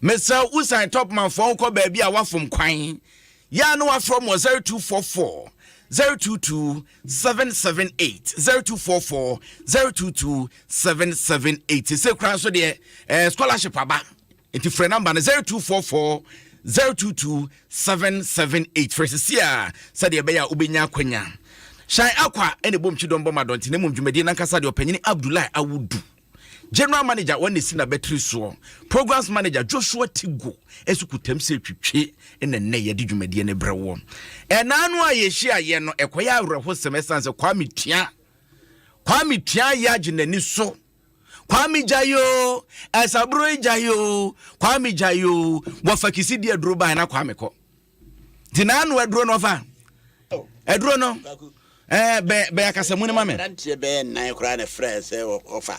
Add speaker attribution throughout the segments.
Speaker 1: Mesrɛ wo Usain Topman fɔn kɔ baabi a wafom kwan yɛ a na wafrɛ mu wɔ 0244 022 778 0244 022 778 sɛ kura nso deɛ eh, scholarship aba nti frɛ namba no 0244 022 778 frɛ sisi a sɛdeɛ ɛbɛyɛ a wobɛnya akwanya hyɛn akwa ɛna ɛbom kyi dɔmbɔ ma dɔnte na mmom dwumadie no ankasa deɛ ɔpanyini abdulai awudu General Manager Wanesi Nabatiri soɔ, Programs Manager Joshua Tigo nso kutam sɛ twitwi na nnɛ yɛde dwumadie no brɛ woɔ. Ɛnaa no a yɛhyiaeɛ no, ɛkɔyɛ awerɛhosɛm ɛsiane sɛ Kwame Tua Kwame Tua yɛ agye n'ani so Kwame Jayo, Esaburo Jayo, Kwame Jayo, wɔfa kisi di aduro ban na Kwame kɔ. nti na ano aduro no ɔfa aduro no ɛɛ bɛn bɛn akasamu no ma mi. aberanteɛ bɛyɛ nnan koraa
Speaker 2: na frɛ sɛ ɔfa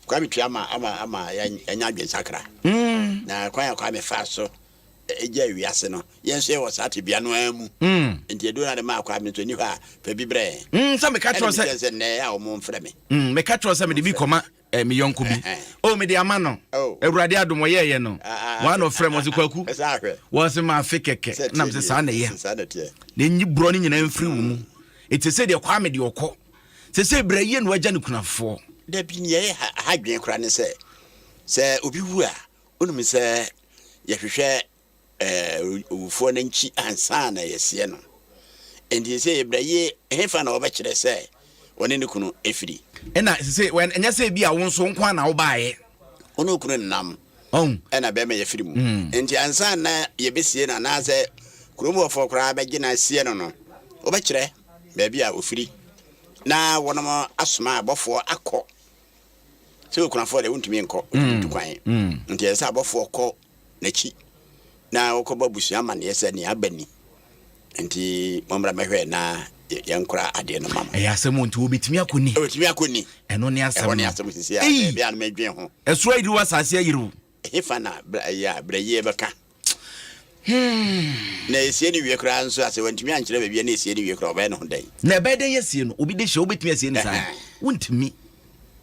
Speaker 2: kwame tua ama ama ama yɛanya adwensakra hmm. na kwan a kwame fa so ɛgya e, wiase no yɛn nso yɛwɔ saa tebea no ara mu hmm. nti ɛduro no ade maa kwame nso ni hɔ a fa bi brɛ hmm, sɛ meka kyerɛ
Speaker 1: sɛ nnɛ a ɔmo mfrɛ me
Speaker 2: meka kyerɛ sɛ mede
Speaker 1: bi kɔma eh, me yɔnko bi oh mede ama no oh. awurade adom ɔyɛɛyɛ no ah, ah, ah, wɔana ɔfrɛ m ɔse kwaku wɔse ma afe kɛkɛ nam sɛ saa na ɛyɛ na ɛnyi borɔ no nyinaa mfiri wo mu ɛte sɛ deɛ kwaa mede ɔkɔ sɛ sɛ berɛ yie no wagya no kunafoɔ da bi neɛ yɛ
Speaker 2: hadwene kora ne sɛ sɛ obi wu a wonim sɛ yɛhwehwɛ Ɛɛ, owufoɔ no nkyi ansa na yɛseɛ no. Enti ɛsɛ sɛ yɛbira yie hefa na wɔbɛkyerɛ sɛ ɔne ne kunu firi. Ɛna ɛsɛ sɛ, wɛn,
Speaker 1: ɛnyɛ sɛ ebia wo nso wo nko ara na wobaeɛ. Wo ne wo kunu
Speaker 2: nenam. Ɔhu. Ɛna bɛrima yɛ firi mu. Mm. Enti ansa na yɛbɛsie no anaasɛ kurom hɔfoɔ koraa bɛgye no asie no no, wɔbɛkyerɛ baabi a ɔfiri. Na wɔnom asoma abɔfoɔ akɔ. Sɛ okunafoɔ deɛ, wontumi nkɔ, wontumi tu kwan. Mm. Mm. Enti ɛsɛ sɛ abɔfoɔ kɔ n'akyi na wɔkɔbɔ abusua amanneɛ sɛ nea aba ni nti mommra mɛhwɛ na yɛnkora adeɛ no ma mo. Ɛyɛ asɛm nti wɔbɛtumi akɔ
Speaker 1: ni. Wɔbɛtumi akɔ ni. Ɛno ne asɛm no. Ɛhɔ ne asɛm sisi a ɛbi a no
Speaker 2: mɛdwen ho. Ɛso ayiriw asase
Speaker 1: ayiriw. Ɛhefa na
Speaker 2: ɛyɛ a brɛyie bɛka. Hmm. Na ɛsie no wie koraa nso asɛ wɔntumi ankyerɛ baabi a na ɛsie no wie koraa ɔbɛyɛ ne ho dɛn. Na ɛbɛyɛ dɛn asie
Speaker 1: no obi de hyɛ wobɛtumi asie no saa wontumi.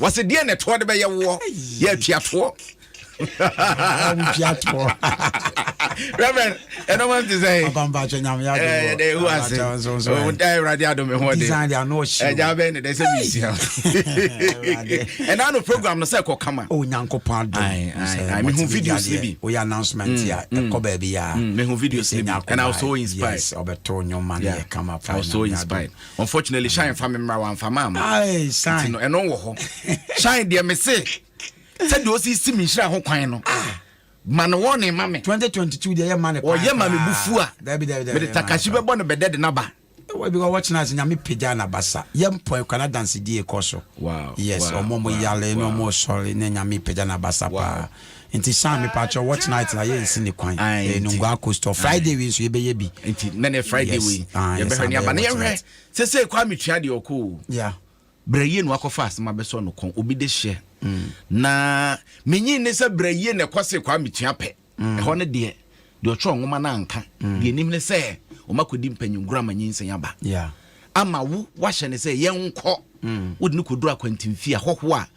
Speaker 1: Wɔse deɛ na ɛtoɔ de bɛyɛ woɔ yɛ atuatoɔ. Wutuatoɔ. Reverend, ɛno mo nte sɛ. Papa mpakyɛ nyame yɛ adom. Ɛɛ dɛ ehu ase. Mpakyɛ nso nso. Ɛwɔ da Awurade adom ɛho ɔde. Design deɛ ano ɔhyɛ. Ɛgya bɛn ne dɛ sɛ mi si ha. Ɛna no program no sɛ ɛkɔ kama. O Nyankopɔn adom. Ayi
Speaker 3: ayi ayi mehu
Speaker 1: videos ni bi. O yɛ announcement ya
Speaker 3: ɛkɔ baabi ya. Mehu videos ni bi.
Speaker 1: And I was so inspired. Yes ɔbɛto nyɔma
Speaker 3: ne yɛ kama pa. I was so inspired.
Speaker 1: unfortunately shine fa me mmra wamfa maa me nti no ɛno
Speaker 3: wɔ hɔ
Speaker 1: shine deɛ me se sɛdeɛ ɔsisi me nhyira ho kwan no ah. ma no wɔ ne ma me 2022 deɛ yɛ ma ne
Speaker 3: ɔyɛ ma me bufu a
Speaker 1: mede takahyi
Speaker 3: bɛbɔ
Speaker 1: no bɛdɛ de naba wɔkyena ase
Speaker 3: nyame pagya na basa yɛmpɔ akwa no adansedie kɔ so yes ɔmɔ
Speaker 1: mo yale
Speaker 3: ne ɔmɔ sɔre ne nyame pagya na basa paa Nti Sean mepakyɛw watch night na yɛnsi ne kwan ɛyɛ Nungua Coastal Friday wei nso yɛbɛyɛ bi Nti na nɛ Friday
Speaker 1: wei yes ah yɛbɛhwɛ yɛsan ne bɛyɛ aba na watch yɛhwɛ night sesei Kwame Tua deɛ ɔkɔ o yeah
Speaker 3: Brayie na wakɔfa
Speaker 1: asɛm abɛsɔ no kɔn obi de hyɛ na menyin ne sɛ Brayie na ɛkɔ se Kwame Tua pɛ ɛhɔ no deɛ deɛ ɔtwerɛ nwoma no anka deɛ ɛnim ne sɛ wɔn akɔdi mpanyin goro ama nyinsɛn aba yeah ama
Speaker 3: wo
Speaker 1: wahyɛ ne sɛ yɛnkɔ wode no kɔduru akwantemfie a hɔhoɔ a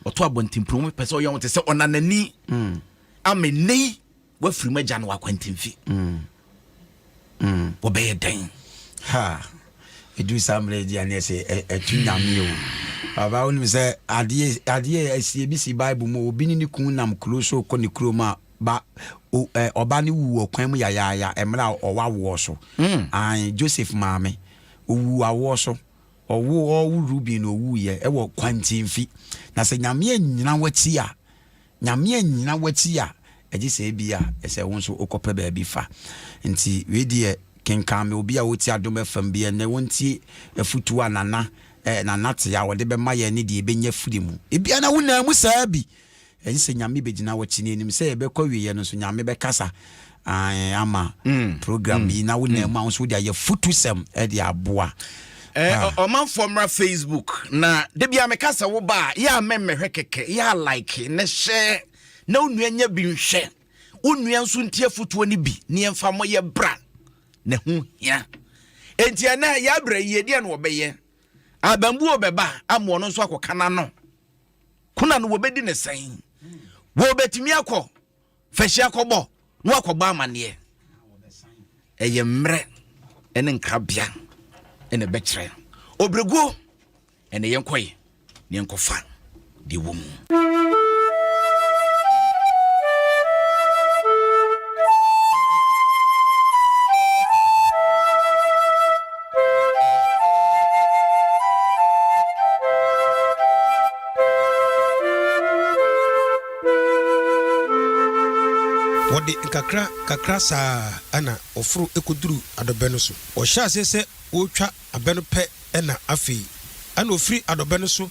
Speaker 1: Ɔtɔ abɔntenpon mepɛ sɛ ɔyɛ wo te sɛ ɔnanani mm. ama nnɛ yi wafiri m'agya no wakwantemfi mm. mm. wɔbɛyɛ dɛn ha
Speaker 3: ɛduru saa mmerɛ di aneɛ sɛ ɛto nyame o baba wonim sɛ adeɛ asie bi si bible mu obi ne ne ku nam kuro so kɔ ne kurom a ba ɔba no wu ɔkwan mu yayaaya mmerɛ a ɔwawoɔ so mm. joseph maame ɔwu awoɔ so Ɔwo ɔwo Reuben no owu yɛ ɛwɔ kwantinfi na sɛ nyame anyina wakyi a nyame anyina wakyi a ɛgye sɛ ebi a ɛsɛ wo nso okɔpɛ baabi fa nti wei deɛ kenkan me obi a ɔti adom ɛfam bi ɛnɛ wɔnti afutuo a nana ɛɛ nana tea ɔde bɛma yɛ ne deɛ ebɛnya firi mu ebi a na wo naamu saa bi. Ɛsɛ sɛ Nyame bɛgyina hɔ kyene anim sɛ yɛbɛkɔ awieɛ no so Nyame bɛkasa ae ama mm. program mm. yi na wonam mm. mu a wo nso wode ayɛ fotusɛm de aboa
Speaker 1: ɔmanfoɔ mmra facebook na da bia meka sɛ wo ba a yɛ a mɛmmɛhwɛ kɛkɛ yɛ a like ne hyɛ na wo nua nya bi nhwɛ wo nua nso nti afotuo no bi ne ɛmfa mmɔ yɛ bra na ho hia enti ɛnɛ yɛabrɛ yie deɛ na wɔbɛyɛ abambuo bɛba amoɔ no nso akɔka no ano Kuna no wɔbɛdi ne sɛn? Wɔbɛtumi akɔ fɛhyia kɔbɔ na wakɔbɔ amanneɛ. Ɛyɛ mmerɛ ne nkrabea na ɛbɛkyerɛ. Obreguo ɛna yɛnkɔe na yɛnkɔfa deɛ wɔ mu.
Speaker 4: Wɔde nkakra nkakra saa na wɔforo koduru adɔbɛ no so. Wɔhyɛ aseɛ sɛ wɔretwa abɛ no pɛ na afei na wɔfiri adɔbɛ no so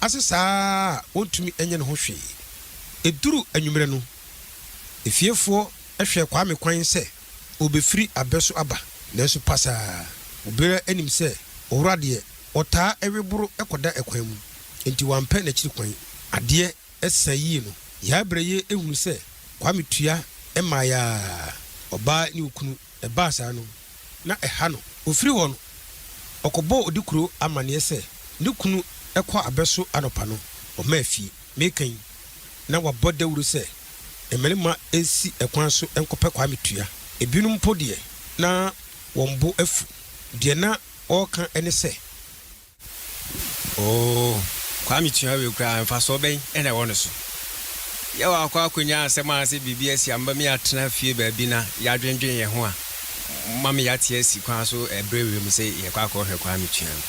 Speaker 4: ase saa ara a ontumi nyɛ ne ho hwee. Eduru anwummere no, efiefoɔ hwɛɛ Kwame kwan sɛ ɔrebɛfiri abɛ so aba, nanso pasaa. Obiara nim sɛ owura deɛ, ɔtaa we boro kɔda kwan mu, enti wampɛ n'akyiri kwan. Adeɛ saa yie no, Yaabrɛyɛ hunuu sɛ Kwame tua mmaeɛ ara, ɔbaa ne okunu. ɛbaa saa no, na ɛha no. Ɔfiri hɔ no, ɔkɔbɔɔ Odikuro amanneɛ sɛ ne kunu kɔ abɛ so anɔpa no, ɔmaa fie. Meka yi, na wɔabɔ dawuro sɛ mmarima nsi kwan so nkɔpɛ Kwame tua. Ebinom mpo deɛ, na wɔn bo afu. Deɛ na ɔreka ne sɛ. Oo,
Speaker 5: Kwame tua wei koraa a, mfasoɔ bɛn na ɛwɔ ne so? Yɛ wɔ akɔ akɔnya asɛm a sɛ biribi asi a mobɛme atena fie baabi na yɛadwendwen yɛn ho a, ma me yɛate asi kwan so ɛberɛ wiem sɛ yɛkɔ akɔhwɛ Kwame tua no.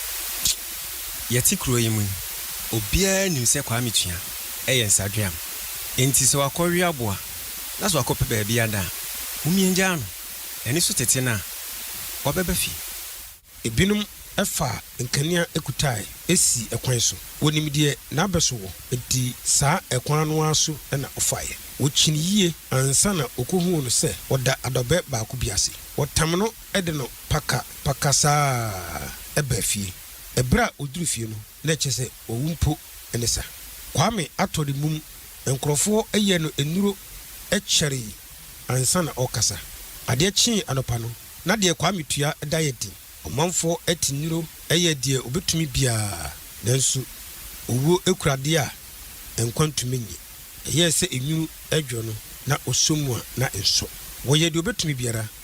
Speaker 5: Yɛte kuro yi mu yi, obiara nim sɛ Kwame tua yɛ nsadweam, enti sɛ wakɔwe abo a, na sɛ wakɔpɛ baabi ada a, momyɛngyaa no, ani so tete no a, wabɛba fie. Ebinom
Speaker 4: faa nkanea kutae sii ɛkwan so. Wɔnim deɛ n'abɛso wɔ, enti saa ɛkwan no ara so na wɔfaeɛ. Wɔkyini yie ansa na wɔkɔhuu no sɛ ɔda adɔbɛ baako bi ase. Wɔtam no de no paka paka saa ara baa fie. Ɛberɛ a ɔduru fie no, Na kyerɛ sɛ wawu mpo ne sa. Kwame atɔ ne mum. Nkurɔfoɔ yɛɛ no nnuro kyɛree ansa na ɔrekasa. Adeɛ kyee anɔpa no, na deɛ Kwame tua da yɛ den. Ɔmanfoɔ te nnuro yɛ deɛ wɔbɛtumi biara, nanso owuo kura adeɛ a nkwa ntumi nnye. Ɛyɛɛ sɛ enwunu dworo no, na ɔsɔ mu a na nsɔ. Wɔyɛɛ deɛ wɔbɛtumi biara.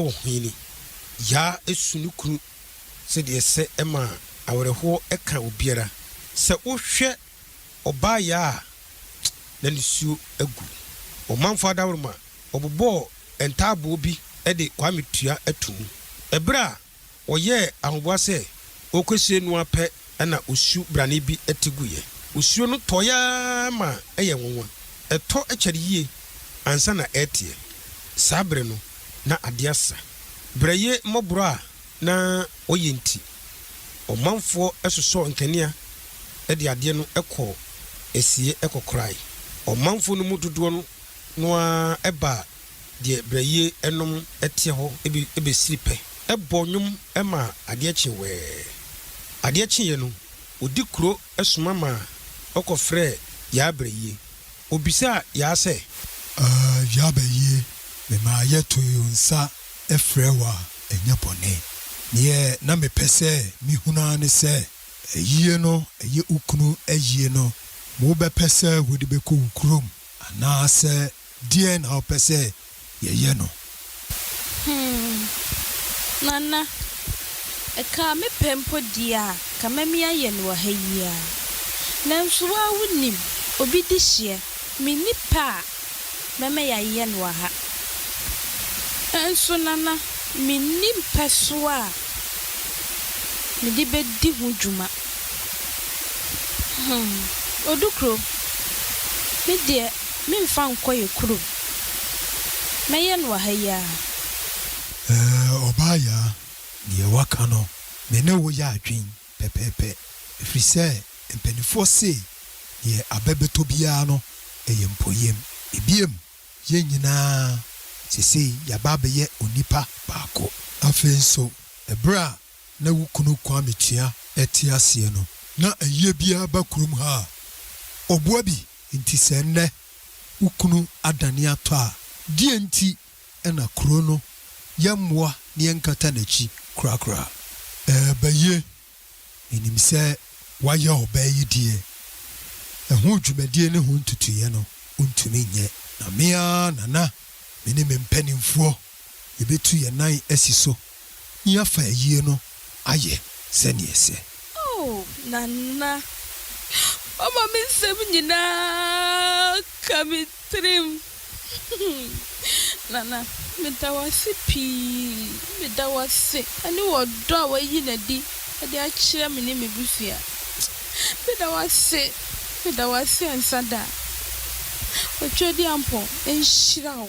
Speaker 4: wɔ Hwini. Yaa su ne kunu sɛdeɛ ɛsɛ ɛma awerɛhoɔ ka obiara. Sɛ wo hwɛ ɔbaa Yaa a na nisuo agu. Ɔmanfoɔ adaworoma ɔbobɔɔ ntaaboo bi de Kwame tua to mu. Ɛberɛ a. Ɔyɛɛ ahoboa sɛ ɔrekɔsie no ara pɛ na osu brane bi te guiɛ. Osuo no tɔe ara ma ɛyɛ nwonwa. Ɛtɔ kyɛre yie ansa na ɛreteɛ. Saa berɛ no, na adeɛ asa. Berɛye mmɔborɔ a na wɔyɛ nti, ɔmanfoɔ sosɔɔ nkanea de adeɛ no kɔɔ asie kɔkorae. Ɔmanfoɔ no mu dodoɔ no ara baa deɛ brɛyie nom teɛ hɔ bɛ siri pɛ. Bɔ nnwom ma adeɛ kye wɛɛ. Adeɛ kyeeɛ no, ɔdi kuro soma maa ɔkɔ frɛɛ Yaa Brɛyie. Ɔbisaa Yaa sɛ. Yaa
Speaker 6: Brɛyie, me maa yɛ too nsa frɛɛ wo a, ɛnyɛ bɔne. Deɛ na me pɛ sɛ me hunu ara ne sɛ, ayie no ɛyɛ wo kunu ayie no, wo bɛ pɛ sɛ wo de bɛ kɔ wo kurom, anaa sɛ Deɛn na wopɛ sɛ yɛyɛ no? Hmm.
Speaker 7: Nana, ɛkaa me pɛ mpo deɛ a, ka ma me ayɛ no wɔ ha yi ara. Nanso wo ara wonim, obi di hyeɛ, menni pɛ a mɛma yɛayɛ no wɔ ha. Nso Nana, menni mpɛsoɔ a mede bɛdi ho dwuma. Hmm. Odukuro, me deɛ Memfa nkɔ yɛ kurom. Mɛyɛ no wɔ ha yi ara. Ɛɛ, ɔbaayaa,
Speaker 6: deɛ woaka no, me ne wo yɛ adwene pɛpɛɛpɛ, ɛfiri sɛ mpanimfoɔ se, Deɛ abɛ bɛtɔ biara no, ɛyɛ mpɔyam. Ebiem, yɛn nyinaa, seesei yɛaba abɛyɛ onipa baako. Afei nso, berɛ a na wo kunu Kwame Kyia te aseɛ no, na ayie biara ba kurom ha a, ɔboa bi. Enti sɛ nnɛ wo kunu adane atɔ a, deɛn nti na kuro no yɛmmoa na yɛnkata n'akyi korakora? Ɛreba yie. Menim sɛ woayɛ ɔbaa yi deɛ ɛho dwumadie ne ho ntutuiɛ no wontumi nyɛ, na me ara Nana me ne me mpanimfoɔ yebetu yɛn nan asi so na yɛafa ayie no ayɛ sɛnea ɛsɛ. O Nana,
Speaker 7: woama me nsɛm nyinaa ka me tirim. Nana, meda wo ase pii. Meda wo ase ne ɔdɔ a woayi no adi de akyerɛ me ne m'abusua. Meda wo ase, meda wo ase ansa da. Otwadeampɔn nhyira wo.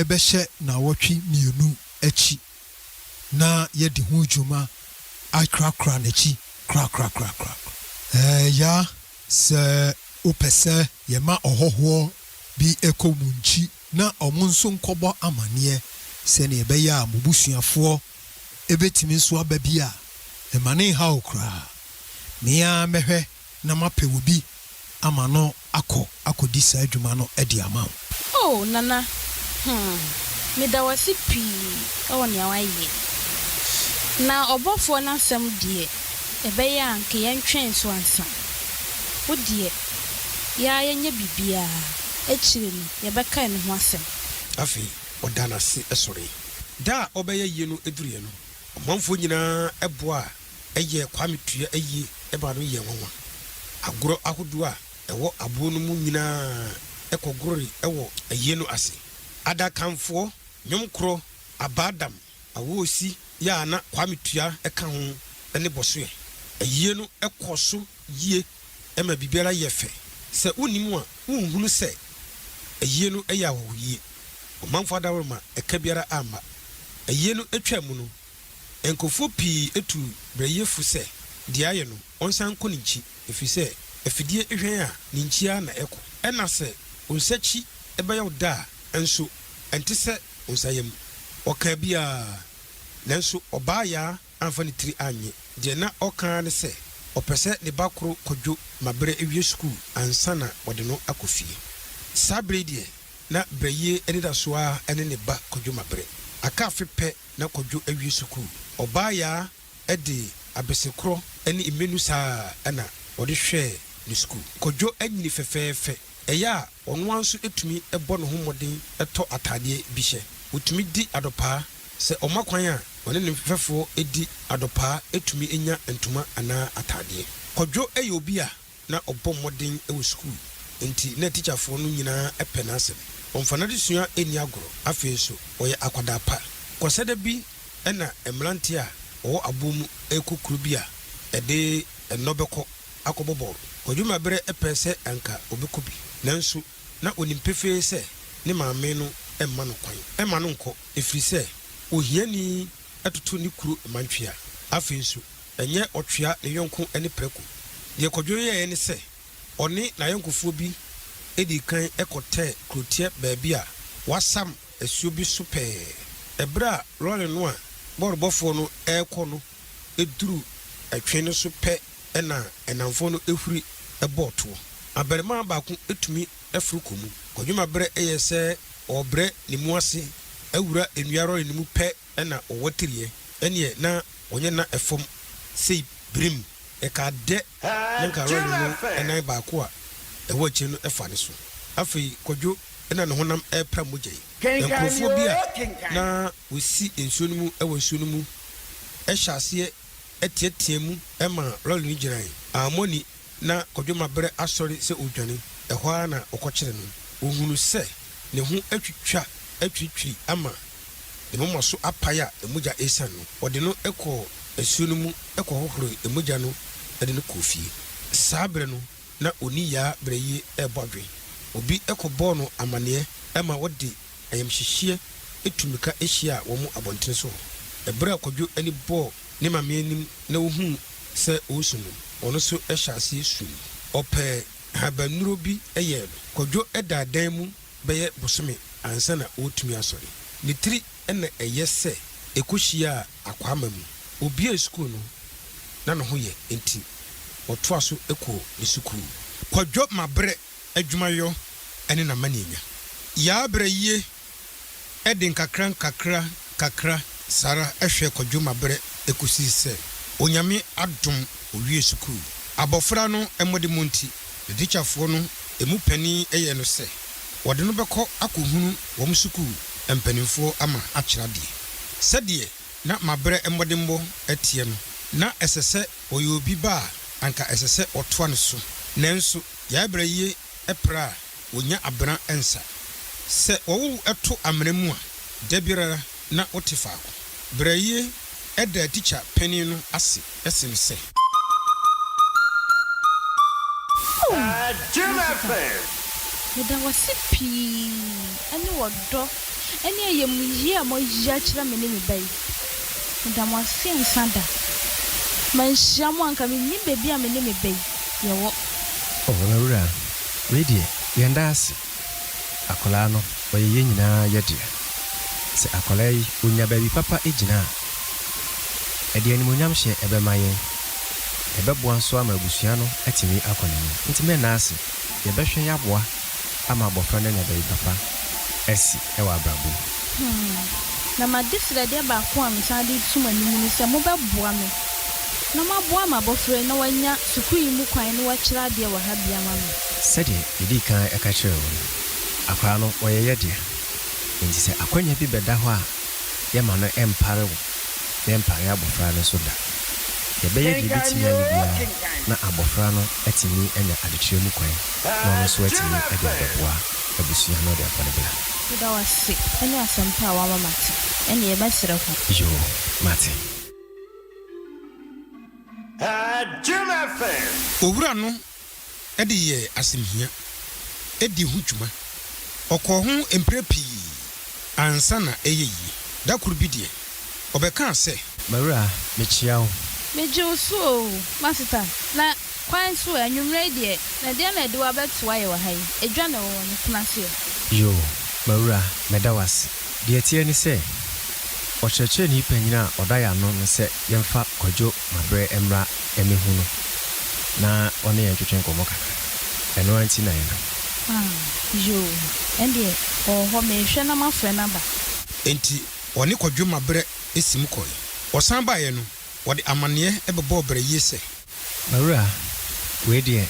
Speaker 7: ɛbɛhyɛ nnawɔtwe mmienu akyi na yɛadi ho dwuma akrakora n'akyi korakorakorakora. Ɛya sɛ wopɛ sɛ yɛma ɔhɔhoɔ bi kɔ mo nkyi na wɔn nso nkɔbɔ amanneɛ sɛdeɛ ɛbɛyɛ a mo abusuafoɔ bɛtumi nso aba bi a, mma no nha wo koraa. Me ara mɛhwɛ Na mapɛ obi ama no akɔ akɔdi saa adwuma no de ama wo. O Nana, hmm, meda wo ase pii wɔ nea woayɛ. Na ɔbɔfoɔ no asɛm deɛ, ɛbɛyɛ a anka yɛntwɛn so ansa. Wo deɛ, yɛ ara yɛnyɛ biribiara, akyire no yɛbɛka ɛno ho asɛm. Afei
Speaker 4: ɔdaa no ase sɔree. Da a ɔbɛyɛ yie no duruiɛ no, ɔmanfoɔ nyinaa boaa ɛyɛɛ Kwame tua ayie ɛma no yɛɛ nwanwa. Agorɔ ahodoɔ a ɛwɔ aboɔ no mu nyinaa kɔ goree ɛwɔ ayie no ase. Adakanfoɔ, Nwomkorɔ, Abaadam, Awoosi, yɛ a na Kwame tua ka ho ne Bɔsoɛ. Ayie no kɔɔ so yie ɛma biribiara yɛɛ fɛ. Sɛ wonim a wonhunu sɛ ayie no yɛ ahɔhoyie. Ɔmanfoɔ adaworoma ɛka biara amma. Ayie no twaa mu no, Nkurɔfoɔ pii tu berɛ yɛ fu sɛ deɛ ayɛ no ɔnsan nkɔ ne nkyi ɛfiri sɛ afidie hwɛn a ne nkyi ara na ɛkɔ. Ɛna sɛ wo nsa kyi bɛyɛ wo dɛ a nso ɛnte sɛ wo nsa yam. Ɔkaa bi ara nanso ɔbaa yaa amfa ne tiri annye. Deɛ na ɔka ara ne sɛ ɔpɛ sɛ ne ba koro kɔdwo ma berɛ awie sukuu ansa na wɔde no akɔ fie. Saa berɛ yi deɛ na berɛ yie anidasoɔ ara ne ne ba kɔdwo ma berɛ. Aka afe pɛ na Kwadwo awie sukuu. Ɔbaayaa de abesekorɔ ne mmenu saa na ɔde hwɛɛ ne sukuu. Kwadwo anyini fɛfɛɛfɛ. Ɛyɛ a ɔno ara nso tumi bɔ ne ho mmɔden tɔ ataadeɛ bi hyɛ. Ɔtumi di adɔpaa. Sɛ ɔma kwan a, ɔne ne mfɛfoɔ di adɔpaa tumi nya ntoma anaa ataadeɛ. Kwadwo yɛ obi a Ná ɔbɔ mmɔden wɔ sukuu, enti na tikyafoɔ no nyinaa pɛ n'asɛm. Ɔmfa n'adesua nni agorɔ. Afei nso, ɔyɛ akwadaa pa. Kwasida bi na mmeranteɛ a wɔwɔ aboɔ mu rekɔ kuro bi a ɛde nnɔ bɛkɔ akɔbɔ bɔɔl. Kwadwomaberɛ pɛɛ sɛ anka ɔbɛkɔ bi, nanso na ɔnim pefee sɛ ne maame no mma no kwan mma no nkɔ, ɛfiri sɛ ohiani toto ne kuro mmantwea. Afei nso, Ɛnyɛ ɔtwea ne yɔnko ani prɛko. Deɛ Kwadwore yɛeɛ ne sɛ, ɔne n'ayɔnkofoɔ bi dii kan kɔtɛɛ kuroteɛ baabi a wɔasam asuo bi so pɛɛ. Ɛberɛ a lɔre no a bɔɔlobɔfoɔ no rekɔ no duru ɛtwe no so pɛ na nnamfoɔ no huri bɔɔ toɔ. Abarimaa baako tumi foro kɔ mu. Kwadwomaberɛ yɛɛ sɛ ɔrebrɛ ne mu ase awura nnua lɔre no mu pɛ Ɛna ɔwɔ tiriɛ ɛneɛ na ɔnyɛ na ɛfɔm sei birim ɛka dɛ na nka rɔli no ɛnan baako a ɛwɔ akyire no ɛfa ne so afei kwadwo ɛna ne honam ɛɛpra mogya yi na nkurofoɔ bi a na wɔsi nsuo no mu ɛwɔ nsuo no mu ɛhyɛ aseɛ ɛteatea mu ɛma rɔli no gyinae aamɔni Ná Kwadwo Mabrɛ asɔre sɛ ɔredwane. Ɛhɔ ara na wɔkɔkyeree no. Wɔhunuu sɛ ne ho atwitwa atwiritwiri ama ne moma so apae a mogya resian no. Wɔde no kɔɔ asuo no mu kɔhohoroo mogya no de no kɔɔ fie. Saa berɛ no, na ɔnni Yaa berɛ yie rebɔ adwene. Obi kɔbɔɔ no amanneɛ ma wɔde ayamhyehyeɛ tuu mmirika hyiaa wɔn abɔntene so hɔ. Berɛ a Kwadwo ani bɔɔ Ne maame anim na ohuu sɛ ɔresu no, ɔno nso hyɛɛ aseɛ sui. Ɔpɛɛ nhabannuro bi yɛɛ no. Kwadwo daa dan mu bɛyɛ bosome ansa na ɔretumi asɔre. Ne tiri na ɛyɛ sɛ ɛkɔhyiaa akwaama mu. Ɔbuee sukuu no na ne ho yɛ enti ɔtoaa so kɔɔ ne sukuu. Kwadwo ma berɛ, adwumayɔ ne n'amanianya yaa brɛ yie. de nkakrankakra saa ara hwɛɛ Kwadwo ma bere kosii sɛ Onyame adom owiee sukuu. Abofra no mmɔdemmɔ nti, ne tikyafoɔ no mu panin yɛɛ no sɛ wɔde no bɛkɔ akohunu wɔn sukuu mpanimfoɔ ama akyerɛ adeɛ. Sɛdeɛ na Mabrɛ mmɔdemmɔ teɛ no, na ɛsɛ sɛ ɔyɛ obi ba a anka ɛsɛ sɛ ɔtoa ne so. Nanso, Yaebrɛ yɛ Ɛperɛ a wɔnya abena nsa. Sɛ wɔwo wo to amena mu a, da biara na wote faako. Brɛyie da tikya panin no ase sene sɛ.
Speaker 8: Meda wo ase pii ne ɔdɔ ne ayamyie a moayie akyerɛ me ne me ba yi. Meda mo ase ansa da. Manhyia mo a anka mennim baabi a me ne me ba yi. yɛwɔ. O Awura,
Speaker 5: wei deɛ, yɛnda ase. Akwadaa no, ɔyɛ yɛn nyinaa yɛ dea. Sɛ akwadaa yi, ɔnya baabi papa gyina a, ɛde animuonyamhyɛ bɛma yɛn. Ɛbɛboa nso ama abusua no atumi akɔ n'anim. Enti mɛnna ase. Yɛbɛhwɛ, yɛaboa, ama abɔfra no anya baabi papa asi wɔ abrabɔ mu. Hmm.
Speaker 8: Na m'adesrɛdeɛ baako a mesan de reto mo anim ne sɛ mobɛboa me na moaboa m'abɔfra yi na wanya sukuu yi mu kwan na wakyerɛ adeɛ wɔ ha bi ama me. Sɛdeɛ yɛdii kan
Speaker 5: ka kyerɛɛ wo no, akwadaa no, ɔyɛ yɛn dea. Enti sɛ akwannya bi bɛda hɔ a yɛmma no mpare wo na ɛmpare abɔfra no nso da. Yɛbɛyɛ deɛ ɛbɛtumi ayɛ biara na abɔfra no atumi anya adekyerɛ mu kwan na ɔno nso atumi de abɛboa abusua no de akɔ ne bra. Meda wo ase
Speaker 8: ne asɛmpa a woama mate. Ɛnneɛ yɛbɛsrɛ ho. Yoo, mate.
Speaker 4: Owura no de yɛɛ asɛnhia di ho dwuma. Ɔkɔɔ ho mpre pii ansa na ɛyɛ yie. Da koro bi deɛ, ɔbɛkaa sɛ. M'awura,
Speaker 5: mekyea wo. Megye wo so o,
Speaker 8: m'aseta. Na kwan so ɛ, anwummerɛ yi deɛ, na deɛn na ɛde wo abɛtoa yɛ wɔ ha yi? Adwa na ɛwɔ hɔ no, tena ase o. Yoo,
Speaker 5: m'awura, meda wo ase. Deɛ ɛteɛ ne sɛ, ɔkyerɛkyerɛni panyin a ɔda yɛn ano no sɛ yɛmfa Kwadwo. ma berɛ mmra mmɛhu no na ɔne yɛn ntwetwe nkɔmmɔ kakra. Ɛno ara nti na yɛnam. Ah, yoo,
Speaker 8: ɛndeɛ ɔwɔ hɔ, merehwɛ na mafrɛ no aba. Enti
Speaker 4: wɔne Kwadwo ma berɛ siim kɔe. Wɔsan baeɛ no, wɔde amanneɛ bɛbɔɔ Brɛyie sɛ. M'awuraa,
Speaker 5: wei deɛ,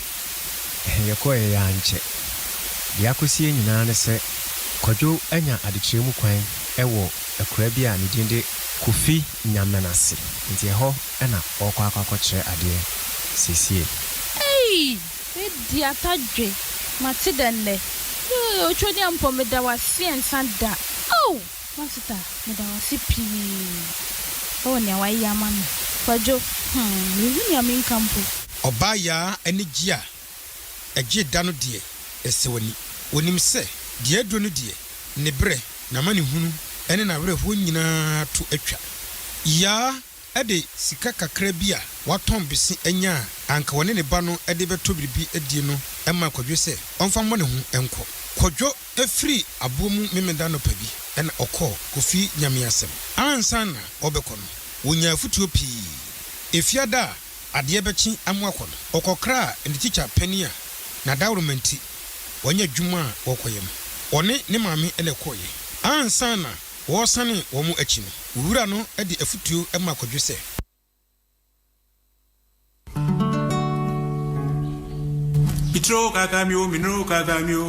Speaker 5: yɛkɔeɛ yi ara nkyɛ. Deɛ akɔsie nyinaa ne sɛ Kwadwo anya adekyerɛ mu kwan wɔ. akuraa bi a ne din de Kofi Nyamenase. Nti ɛhɔ na ɔrekɔ akɔ akɔkyerɛ adeɛ seesei. Ei!
Speaker 8: Medi atadwe, mate dɛ nnɛ. Ei! Otwodiampɔ, meda wo ase ansa da. Ow! M'aseta, meda wo ase pii wɔ nea woayɛ ama me. Kwadwo, hmm, menhu nea menka mpo. Ɔbaayaa
Speaker 4: ani gye a Ɛgye da no deɛ ɛsɛ w'ani. Wɔnim sɛ deɛ aduro no deɛ ne berɛ, n'amanehunu ne n'awerɛhoɔ nyinaa to atwa. Yaa de sika kakra bi a watɔn bese anya a anka ɔne ne ba no de bɛtɔ biribi adie no maa Kwadwo sɛ ɔmfa mmɔ ne ho nkɔ. Kwadwo firii aboɔ mu Memeneda anɔpa bi na ɔkɔɔ Kofi Nyame asɛm. Ansa na ɔrebɛkɔ no, ɔnyaa afutuo pii. Efiada a. Adeɛ bɛkye ama wakɔ no. Ɔkɔkraa ne tikya panin a n'adaworoma nti wanya adwuma a ɔrekɔyɛ no. Ɔne ne maame na ɛkɔeɛ. Ansa na wɔresane wɔn akyi no, owura no de afotuo maa Kwadwo sɛ.
Speaker 9: Itro kaka mi o, minro kaka mi o.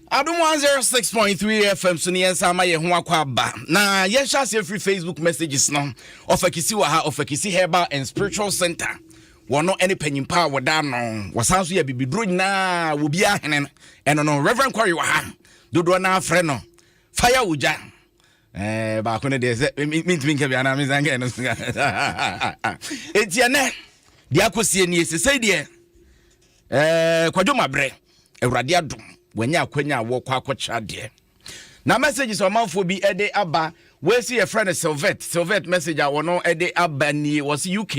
Speaker 1: Adom 106.3 FM so ne yɛn nsa ama yɛn ho akɔ aba na yɛnhyɛ aseɛ firi Facebook messages no ɔfakisi wɔ ha ɔfakisi herbal and spiritual center wɔno ne panyimpa a wɔda ano wɔsan so yɛ bibiduro nyinaa wɔ biara hene no ɛno no reverend kɔre wɔ ha dodoɔ no afrɛ no fire ogya eh, baako no deɛ sɛ mentumi nka bianaa mensan kɛ no ɛntiɛ nɛ deɛ akɔsie nie sesei deɛ Eh, kwadwo mabrɛ awurade adom wanya akwanya a wɔkɔ akɔkyerɛ adeɛ na messages a ɔmanfoɔ bi de aba wɔasi yɛfrɛ no silvet silvet message a wɔno de aba nie wɔse uk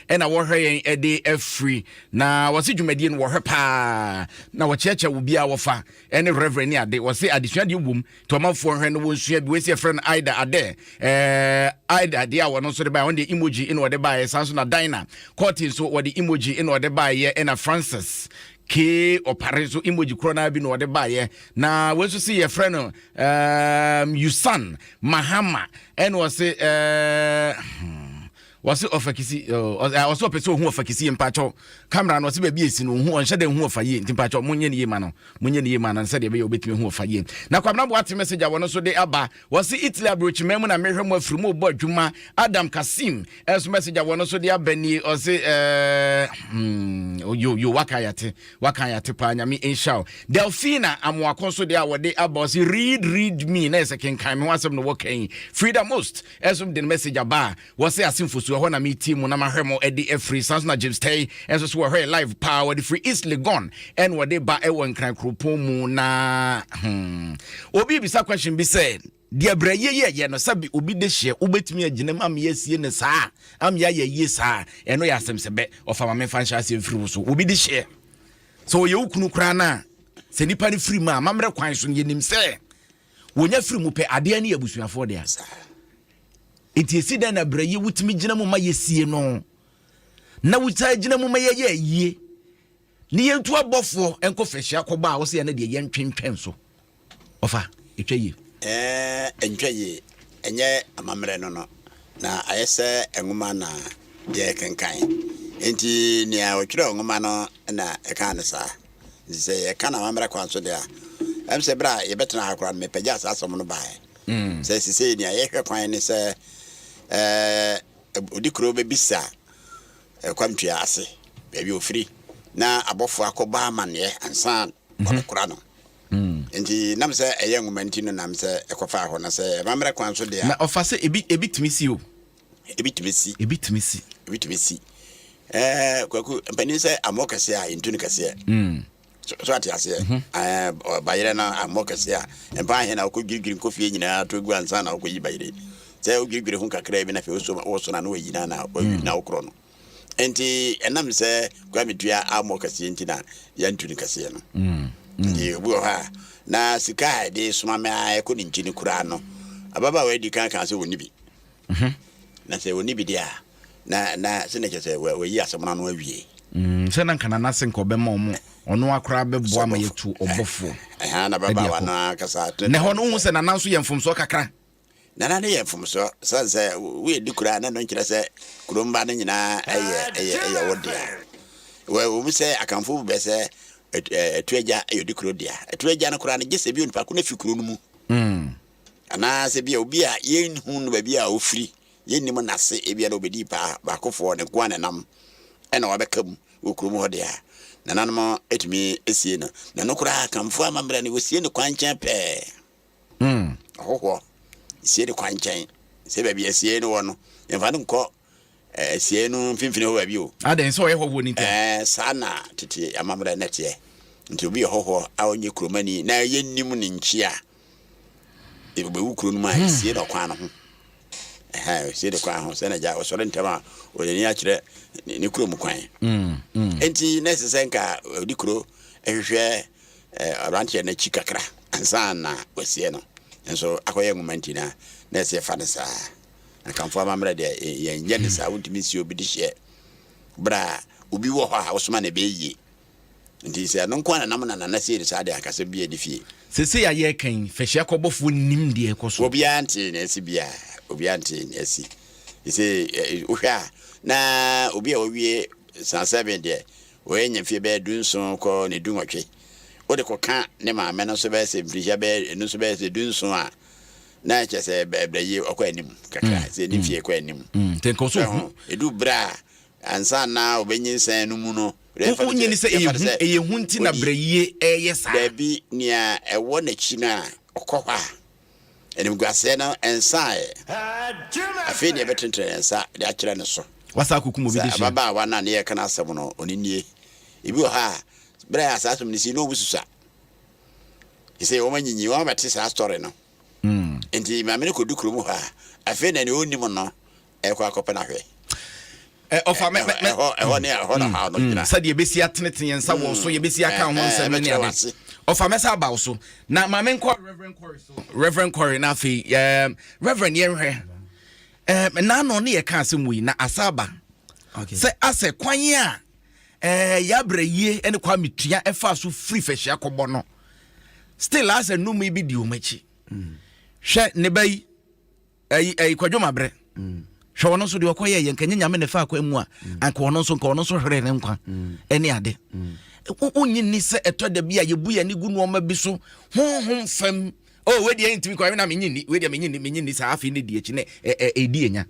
Speaker 1: ɛna wɔhwɛ yɛn de afiri na wɔse dwumadie no wɔhwɛ paa na wɔkyerɛkyerɛ wo biara wɔfa ɛne reverend ne ade wɔse adesuadeɛ wom tɔmafoɔ nhwɛ no wɔnsua bi wɔsi ɛfrɛ no aida adɛ ɛɛ aida deɛ a wɔn nso de baeɛ wɔn de emoji ɛna wɔde baeɛ san so na dina kɔɔte nso wɔde emoji ɛna wɔde baeɛ ɛna francis kee ɔpare nso emoji korɔ no bi na wɔde baeɛ na wɔn nso si yɛfrɛ no ɛɛm yusan mahama ɛna wɔsi ɛɛ. Hmm. Wɔse ɔfa kisi ɔse ɔpɛ sɛ ɔhu ɔfa kisi yie mpakyɛw kamera no ɔse baabi esi no ɔhu ɔnhyɛ dɛ hu ɔfa yie nti mpakyɛw monyɛ ne yie ma no monyɛ ne yie ma no sɛdeɛ ɛbɛyɛ ɔbɛtumi hu ɔfa yie na kwabena boa te message a wɔno so de aba wɔse Italy aburokyiman mu na mehwɛ mo afiri mu bɔ adwuma Adam Kasim ɛnso message a wɔno so de aba nie ɔse ɛɛ hmm, oh, yo yo waka yate waka yate paa nyame nhyira o Delphina amoako so de a wɔde aba ɔse read read me na ɛsɛ kenkan me ho asɛm no wɔkan Frida Most ɛnso de no message aba a wɔse ase mfosuo ɛhɔ na metie mu na mahwɛ mo ɛde afiri saa nso na James Tay ɛnso so wɔhwɛ live paa wɔde firi East Legon ɛna wɔde ba ɛwɔ Nkran kuropɔn mu na hmm obi bisa question bi sɛ deɛ brɛ yie yɛ yɛ no sɛbi obi de hyɛ wobɛtumi agyina mu ameyɛ asie no saa ameyɛ ayɛ yie saa ɛno yɛ asɛm sɛ bɛ ɔfa ma mefa nhyɛ aseɛ mfiri wo so obi de hyɛ sɛ ɔyɛ wo kunu koraa no a sɛ nnipa no firi mu a mammerɛ kwan so no yɛnim sɛ wɔnya firi mu pɛ adeɛ ne yɛ abusuafoɔ dea nti ɛsi dɛn na berɛ yi wotumi gyina mu ma yɛsie no na wotaa gyina mu ma yɛyɛ ayie ne yɛntu abɔfoɔ nkɔ fɛhyia kɔbɔ a wo sɛ yɛne deɛ yɛntwentwɛn so ɔfa ɛtwa yie ɛntwa
Speaker 2: yie ɛnyɛ amammerɛ no no na ayɛ sɛ nwoma na yɛkenkan nti nea ɔtwerɛ nwoma no na ɛkaa no saa Nti sɛ yɛka no amammerɛ kwan so deɛ a, ɛm sɛ berɛ a yɛbɛtena ha koraa no, mepagyaa saa asɛm no baeɛ. Mm. Sɛ sisei nea yɛhwɛ kwan ne sɛ ɛɛ odi kuro bɛbisa kwamtua ase baabi ofiri na abɔfoɔ akɔbɔ amanneɛ ansa mhm. wɔbɛkora no. Mm. nti nam sɛ ɛyɛ nwoma nti no nam sɛ ɛkɔfaa hɔ na sɛ ɛmammerɛ kwan so deɛ na ɔfa sɛ ebi
Speaker 1: ebi tumi si o Ebi tumi si.
Speaker 2: Ebi tumi si. Ebi tumi si. Ɛɛ eh, kwaku mpanyin sɛ amɔ kɛseɛ a ntu no kɛseɛ. Mm. So, so ate aseɛ. Mm -hmm. Ɛɛ eh, bayerɛ no amɔ kɛseɛ a mpa ahɛn na wokɔ dwiridwiri nkofie nyinaa to gu ansa na wokɔyi bayerɛ. Sɛ wodwiridwiri ho kakra bi na afei woso woso na no wayi na na wayi mm. na wokorɔ no. Nti ɛnam sɛ kura metua amɔ kɛseɛ nti na yɛntu no kɛseɛ no. Mm. Mm. Nti obi wɔ hɔ a na sika a ɛde soma me a ɛkɔ ne nkyi no koraa no ababaawa adi kan kan sɛ wɔnni bi. Mhm. Na sɛ ɔnni bi deɛ a, na na sɛdeɛ kyerɛ sɛ wa- wayi asɛm no ano awie. Mm, sɛ na nka Nana
Speaker 1: Senkɔ bɛma ɔmo ɔno ara koraa bɛboa ma yɛatu ɔbɔfoɔ Ɛha na ɛde bɛba wa
Speaker 2: akɔ. no ara kasa. Na ɛhɔ no wohu sɛ Nana
Speaker 1: nso yɛ mfomsoɔ kakra. Nana no yɛ
Speaker 2: mfomsoɔ sane sɛ wo- woyɛ di kuro a na no nkyerɛ sɛ kuro mma no nyinaa ɛyɛ ɛyɛ ɛyɛ wo dea. Wɔ wɔ mu sɛ akanfo bu bɛ sɛ ɛtu- ɛ- ɛtu agya ɛyɛ ɔdi kuro dea. Ɛtu agya no koraa no gye sɛ bi onipa ko no fi kuro no mu. Mm. Anaasɛ ebia obi a yenhu no baabi a ofiri, yennim n'ase, ebia na obedii paa, baakofoɔ, ne nko ara na ɛnam, ɛna wabɛka mu wɔ kurom hɔ deɛ a, nananom atumi asie no. Na ɛno koraa, Kamfoɔ amammerɛ no, wɔsie no kwankyɛn pɛɛ. Ɔhɔhoɔ, sie no kwankyɛn. Sɛ baabi a asiei no wɔ no, yɛmfa no nkɔ Eh, asiei no mfimfini hɔ baabi o. Adɛn, sɛ ɔyɛ hɔhoɔ no nti a?
Speaker 1: Eh, saa na
Speaker 2: tete amammerɛ no teɛ. Nti obi yɛ hɔhoɔ a ɔnyɛ kuromani na yɛnnim ne nkyi a, eh, ɔbɛwu kuro no mu a, hmm. yɛsie no ɔkwan no ho. Ɛhɛ, yɛsie no kwan ho, sɛ na gya ɔsɔre ntɛm a, ɔyɛni akyerɛ ne kuro mu kwan. Hmm, hmm. Nti, na ɛsɛ sɛ nka ɔdi kuro hwehwɛ eh, aberanteɛ no akyi kakra, ansa na wasie no. Nanso akɔyɛ nwoma nti na, na ɛsɛ fa no saa. Akanfoɔ amammerɛ deɛ eh, yɛnyɛ ne saa wontumi nsi obi de hyɛ berɛ a obi wɔ hɔ a wosoma na ɛbɛyɛ yie nti sɛ ɛno nko a nanam na nana sei no saa deɛ ankasɛm bi ɛne fie sesei a yɛka yi
Speaker 1: fɛhyia kɔbɔfoɔ nnim deɛ ɛkɔ so obiara ntee na asi
Speaker 2: bia obiara ntee na asi ɛsɛ eh, wohwɛ a na obi a wawie saa seven deɛ wɔyɛ nya mfie bɛyɛ du nson kɔ ne du nwɔtwe wode kɔka ne maame no nso bɛyɛ sɛ mfirihyia bɛyɛ ɛno nso bɛyɛ sɛ du nson a na kyerɛ sɛ ɛbrɛ yie ɔkɔ anim kakra mm. sɛ ne mm. fie kɔ anim mm. sɛ ho
Speaker 1: ɛdu berɛ a
Speaker 2: ansa na ɔbɛnyinsɛn no mu no wonyini sɛ
Speaker 1: ɛyɛ hu nti na berɛ yie ɛyɛ saa daabi nea
Speaker 2: ɛwɔ n'akyi no a ɔkɔ hɔ a animguaseɛ no ɛnsaeɛ afei deɛ ɛbɛtentere ne nsa de akyerɛ no so wasa kuku mu bi de hyɛ
Speaker 1: ababaawa no a ne yɛka no asɛm
Speaker 2: no ɔne nie ebi wɔ hɔ a berɛ a saa asɛm no si na ɔmu susa sɛ wɔn anyinyi wɔn abɛte saa story no hmm. nti maame no kɔdu kurom hɔ a afei na nea ɔnnim no ɛkɔ akɔpɛ no ahwɛ Eh, ɔfa
Speaker 1: mɛ mɛ mɛ ɛhɔ ne ɛhɔ na ha no
Speaker 2: gyina sɛdeɛ yɛbɛsi atenetene
Speaker 1: yɛn nsa wɔ so yɛbɛsi aka ho nsɛm ne neade ɔfa mɛ sɛ abaw so na maame nkɔ reverend kɔre so reverend kɔre na afei ɛɛ reverend yɛnhwɛ ɛɛ naano ne yɛ ka asɛm wɔ yi na asaba sɛ asɛ kwan a. Ɛɛ yabra yie ɛne kwame tua ɛfa so firi fɛhyia kɔbɔ no still asɛ num yi bi di wɔn akyi mm. hwɛ ne ba yi ɛyi ɛyi kwadwo ma brɛ mm. hwɛ wɔn nso deɛ ɔkɔ yɛ yɛ nka nye nyame ne fa akɔ mu a mm. anka wɔn nso nka wɔn nso hwere ne nkwa ɛne ade wonyi ni sɛ ɛtɔ da bi a yɛbu yɛn ani gu nneɛma bi so honhom fam o oh, wei deɛ ntumi kɔ ɛmi na menyi ni wei deɛ menyi ni menyi ni saa afei ne di akyi ne ɛɛ ɛdi enya.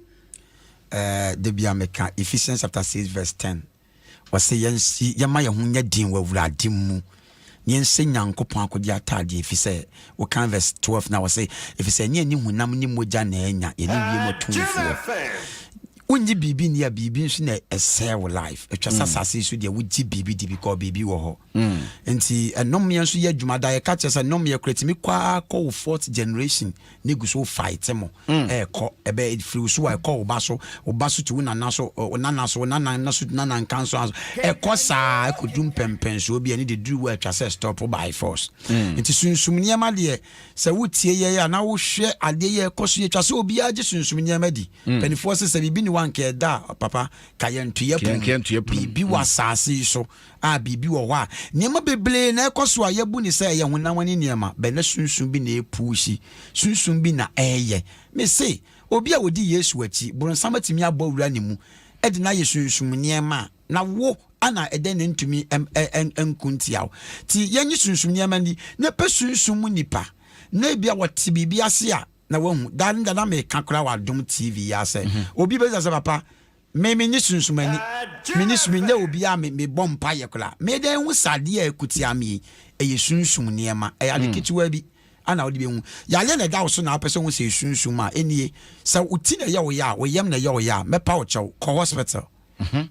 Speaker 1: Ɛɛ,
Speaker 3: dabia meka Ephesians chapter six verse ten. Wɔsɛ yɛnsi yɛma yɛn ho nyɛ den wɔ Awurade mu, na yɛnhyɛ Nyankopɔn akodi ataadeɛ, efisɛ wokan verse twelve na wɔsɛ efisɛ ɛne ɛne honam ne mogya na anya yɛne wiem atumfoɔ. Wonnye biribi nni a biribi nso na ɛsɛe wo life. Atwa sɛ asase yi so deɛ wogye biribi di because biribi wɔ hɔ. Nti ɛnɔmeɛ nso yɛ adwuma da yɛka kyerɛ sɛ nɔmeɛ kora tumi kɔ ara kɔ wo fourth generation. na egu so fight mo mm. ɛɛkɔ ɛbɛ firi wo so a ɛkɔ wo ba so wo ba so ti wo nana so wo nana so wo nana na so nana nkan so ɛkɔ saa ɛkɔ du mpɛmpɛnsoɔ bi ɛne de duru wo atwa sɛ stop by force mm. nti sunsum nneɛma deɛ sɛ wotie yɛ a na wohwɛ adeɛ yɛ ɛkɔ so yɛtwa sɛ obiara gye sunsum nneɛma di mm. mpanimfoɔ sɛ sɛ biribi ne wanka ɛda papa ka yɛn ntuyɛ pum biribi wɔ asaase yi so a biribi wɔ hɔ a nneɛma bebree na ɛkɔ so a yɛbu no sɛ ɛyɛ honam ani nneɛma, bɛ na sunsum bi na ɛrepuusi, sunsum bi na ɛreyɛ. Mise, obi a ɔdi Yesu akyi, boronsam atumi abɔ awura ne mu de no ayɛ sunsum nneɛma a, na wo ana ɛdɛn na ɛntumi nko ntia wo? Nti yɛnnye sunsum nneɛma nni, na ɛpɛ sunsum mu nnipa na ebia wɔte biribi ase a, na woahu, daa ne da na meka koraa wɔ Adom TV yi ara sɛ, obi bɛbisa sɛ, Papa, Me me nye sunsumani me nye me nyɛ obi a me me bɔ mpa yɛ koraa me dɛn ho sɛ adeɛ a ɛku tia me yi ɛyɛ sunsum nneɛma ɛyɛ ade ketewa bi ana wode bɛhu yareɛ na ɛda wo so na wopɛ sɛ wohu sɛ ɛsunsum a ɛnie sɛ wo ti na ɛyɛ wo yɛ a wo yam na ɛyɛ wo yɛ a mɛpa wo kyɛw kɔ hospital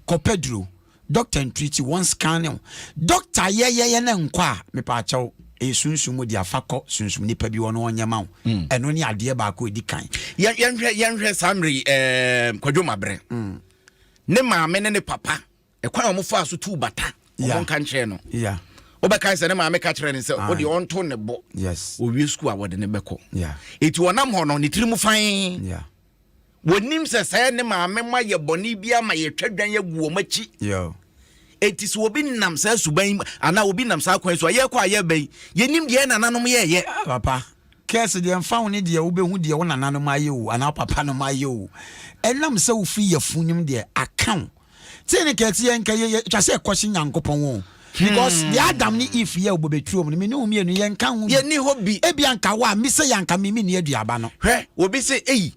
Speaker 3: kɔ pɛ duro Doctor ntreati wo nscanne wo. Doctor yɛ yɛ yɛ na nkɔ a mepaakyɛw ɛyɛ sunsum mu deɛ fa kɔ sunsum nipa bi wɔ no ɔnyɛ ma wo mm. ɛno ne adeɛ baako ɛdi kan. yɛnhwɛ yɛnhwɛ
Speaker 1: saa mmere ɛɛ kwadwo ma brɛ mm. ne maame ne ne papa ɛkwan a wɔfaa so tuu bata wɔn nka nkyerɛ no wobɛkae sɛ ne maame ka kyerɛ ne sɛ wode ɔnto ne bo owie sukuu a wɔde ne bɛkɔ ɛti ɔnam hɔ no ne tiri mu fan Wɔnim sɛ saa yɛ ne maame ma yɛ bɔne biara ma yɛtwa dwan agu wɔn akyi. Enti sɛ obi nam saa suban yi anaa obi nam saa kwan so a yɛkɔ a yɛba yi, yɛnim deɛ nananom yɛɛyɛ. Ah, papa,
Speaker 3: kɛse deɛ mfa ho ne deɛ wobɛhu deɛ wo nananom ayɛ o anaa papa nom ayɛ o. Ɛnam sɛ wofiri yɛfununom deɛ aka wo. Ti ne kɛse yɛ nka yɛ yɛ twa sɛ ɛkɔ si Nyankopɔn o. Because the hmm. Adam ne Eve yɛ ɔbɔ bɛtuo mu no, mene wo mmienu yɛ nka ho. Yɛ ni hɔ bi. Ebi
Speaker 1: anka wo a, mi sɛ
Speaker 3: yɛ anka mi mi ni aduaba no. Hwɛ, obi sɛ eyi,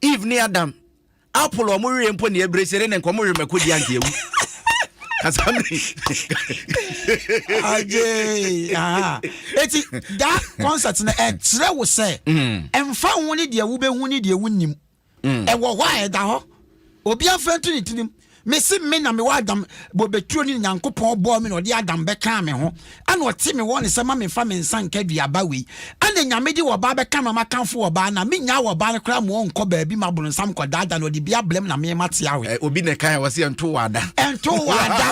Speaker 1: Eve ne Adam, apple a wɔn were mpo ne ebire sere ne nkɔm were mako di anka ewu. Kasami. Ajay. Ah. Eti, that concert na ɛkyerɛ wo sɛ, ɛnfa hmm. ho ne deɛ wobɛhu ne deɛ wonim. mm. ɛwɔ hɔ a ɛda hɔ obi
Speaker 3: afɛ nto ne tirim mese me na mewɔ adam bobeturo ne nyankopɔn bɔɔ me na ɔde adam bɛkaa me ho ɛna ɔte me wɔ ne sɛ ma mefa me nsa nka duaba wei ɛna nyame de wɔbaa bɛka ma makamfo wɔbaa na menya wɔbaa no koraa ma ɔnkɔ baabi ma boronsam kɔdaada na ɔde bi ablem na mema te awe eh, obi na ɛka wɔ sɛ ɛnto
Speaker 1: wɔ ada ɛnto wɔ ada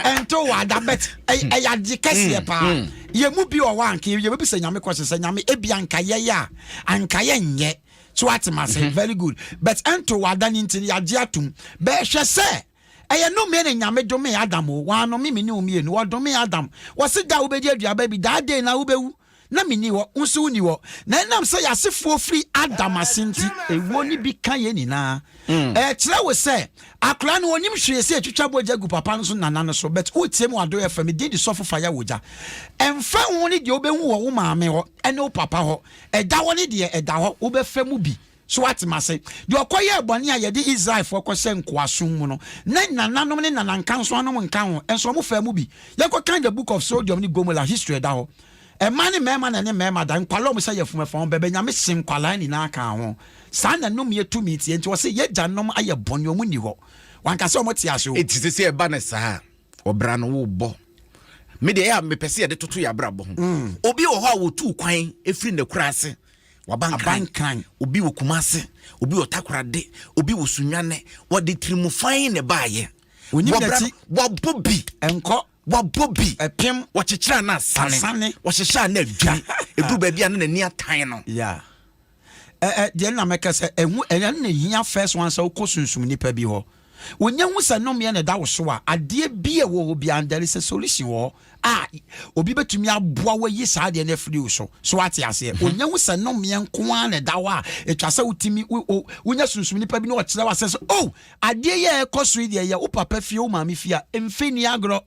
Speaker 1: ɛnto wɔ ada but ɛyɛ adeɛ kɛseɛ paa yɛ mu bi wɔ hɔ anka yɛbɛbisɛ nyame kɔ sɛ sɛ nyame ebia nka yɛyɛ a anka yɛnyɛ so atem ase mhm. very good but ɛnto wada no nti yɛagye atom bɛhwɛ sɛ ɛyɛ nnome ne nyame dome adam o wɔanome me ne wo mmienu wɔdome adam wɔse da wobɛdi aduaba bi daa dei na wobɛwu na menni hɔ wo nso wonni hɔ na ɛnam sɛ yɛasefoɔ firi adam ase nti ɛwuo no bi ka yɛ nyinaa hmm. ɛkyerɛ wo sɛ akora no ɔnim hwee sɛ ɛtwitwa bɔgya gu papa no so nana no so but wotie mu adoyɛ fa medin de sɔfo fa yɛ wogya ɛmfa ho ne deɛ wobɛhu wɔ wo maame hɔ ne wo papa hɔ. Ɛda hɔ ne deɛ ɛda hɔ, wobɛfa mu bi. So woate m'ase? Deɛ ɔkɔyɛɛ bɔne a yɛde Israelfoɔ kɔhyɛ nkoasom mu no, na nananom ne nanankansoanom nka ho, nso wɔfaa mu bi. Yɛnkɔkan The Book of Sodium ne Gomorrah, history ɛda hɔ. Mmaa ne mmarima na ɛne mmarima da, nkwadaa a wɔsɛ yafunu ɛfa wɔn pɛ, bɛ Nyame hye nkwadaa nyinaa kaa ho. Saa na nnomeɛ tumi teɛ, nti wɔse yɛagyanom ayɛ bɔne, wɔn nni hɔ. Wanka sɛ wɔte ase o. Enti sese ɛba no saa a, ɔbra no wobɔ me deɛ ɛyɛ a mepɛ sɛ yɛde toto yɛ abrabɔ ho mm. obi wɔ hɔ a wɔtuu kwan ɛfiri ne kora ase wabankan obi wɔ kuma ase obi wɔ takorade obi wɔ sunwane wɔde tirimufan ne baayɛ wɔbɔ bi ɛnkɔ wabɔ bi ɛpem wɔkyekyere ana asane wɔhyehyɛ ana adwiri ɛduru baabi a na n'ani atan no Ɛ ɛ deɛ na mɛka sɛ ɛho ɛyɛ no na ɛhia first one sɛ wokɔ sunsum nipa bi hɔ wonya hu sɛ nnomeɛ na ɛda wo so a adeɛ bi a ɛwɔ hɔ bi and there is a solution wɔ hɔ a obi bɛtumi aboa wayi saa adeɛ no afiri wo so so ate aseɛ mhm. wonya hu sɛ nnomeɛ nko ara na ɛda hɔ a ɛtwa sɛ wotumi wonya sunsum nipa bi na ɔkyerɛ wasɛ sɛ o oh, adeɛ yɛ ɛkɔ so yi deɛ yɛ wo papa fie wo maame fie a mfe ni agorɔ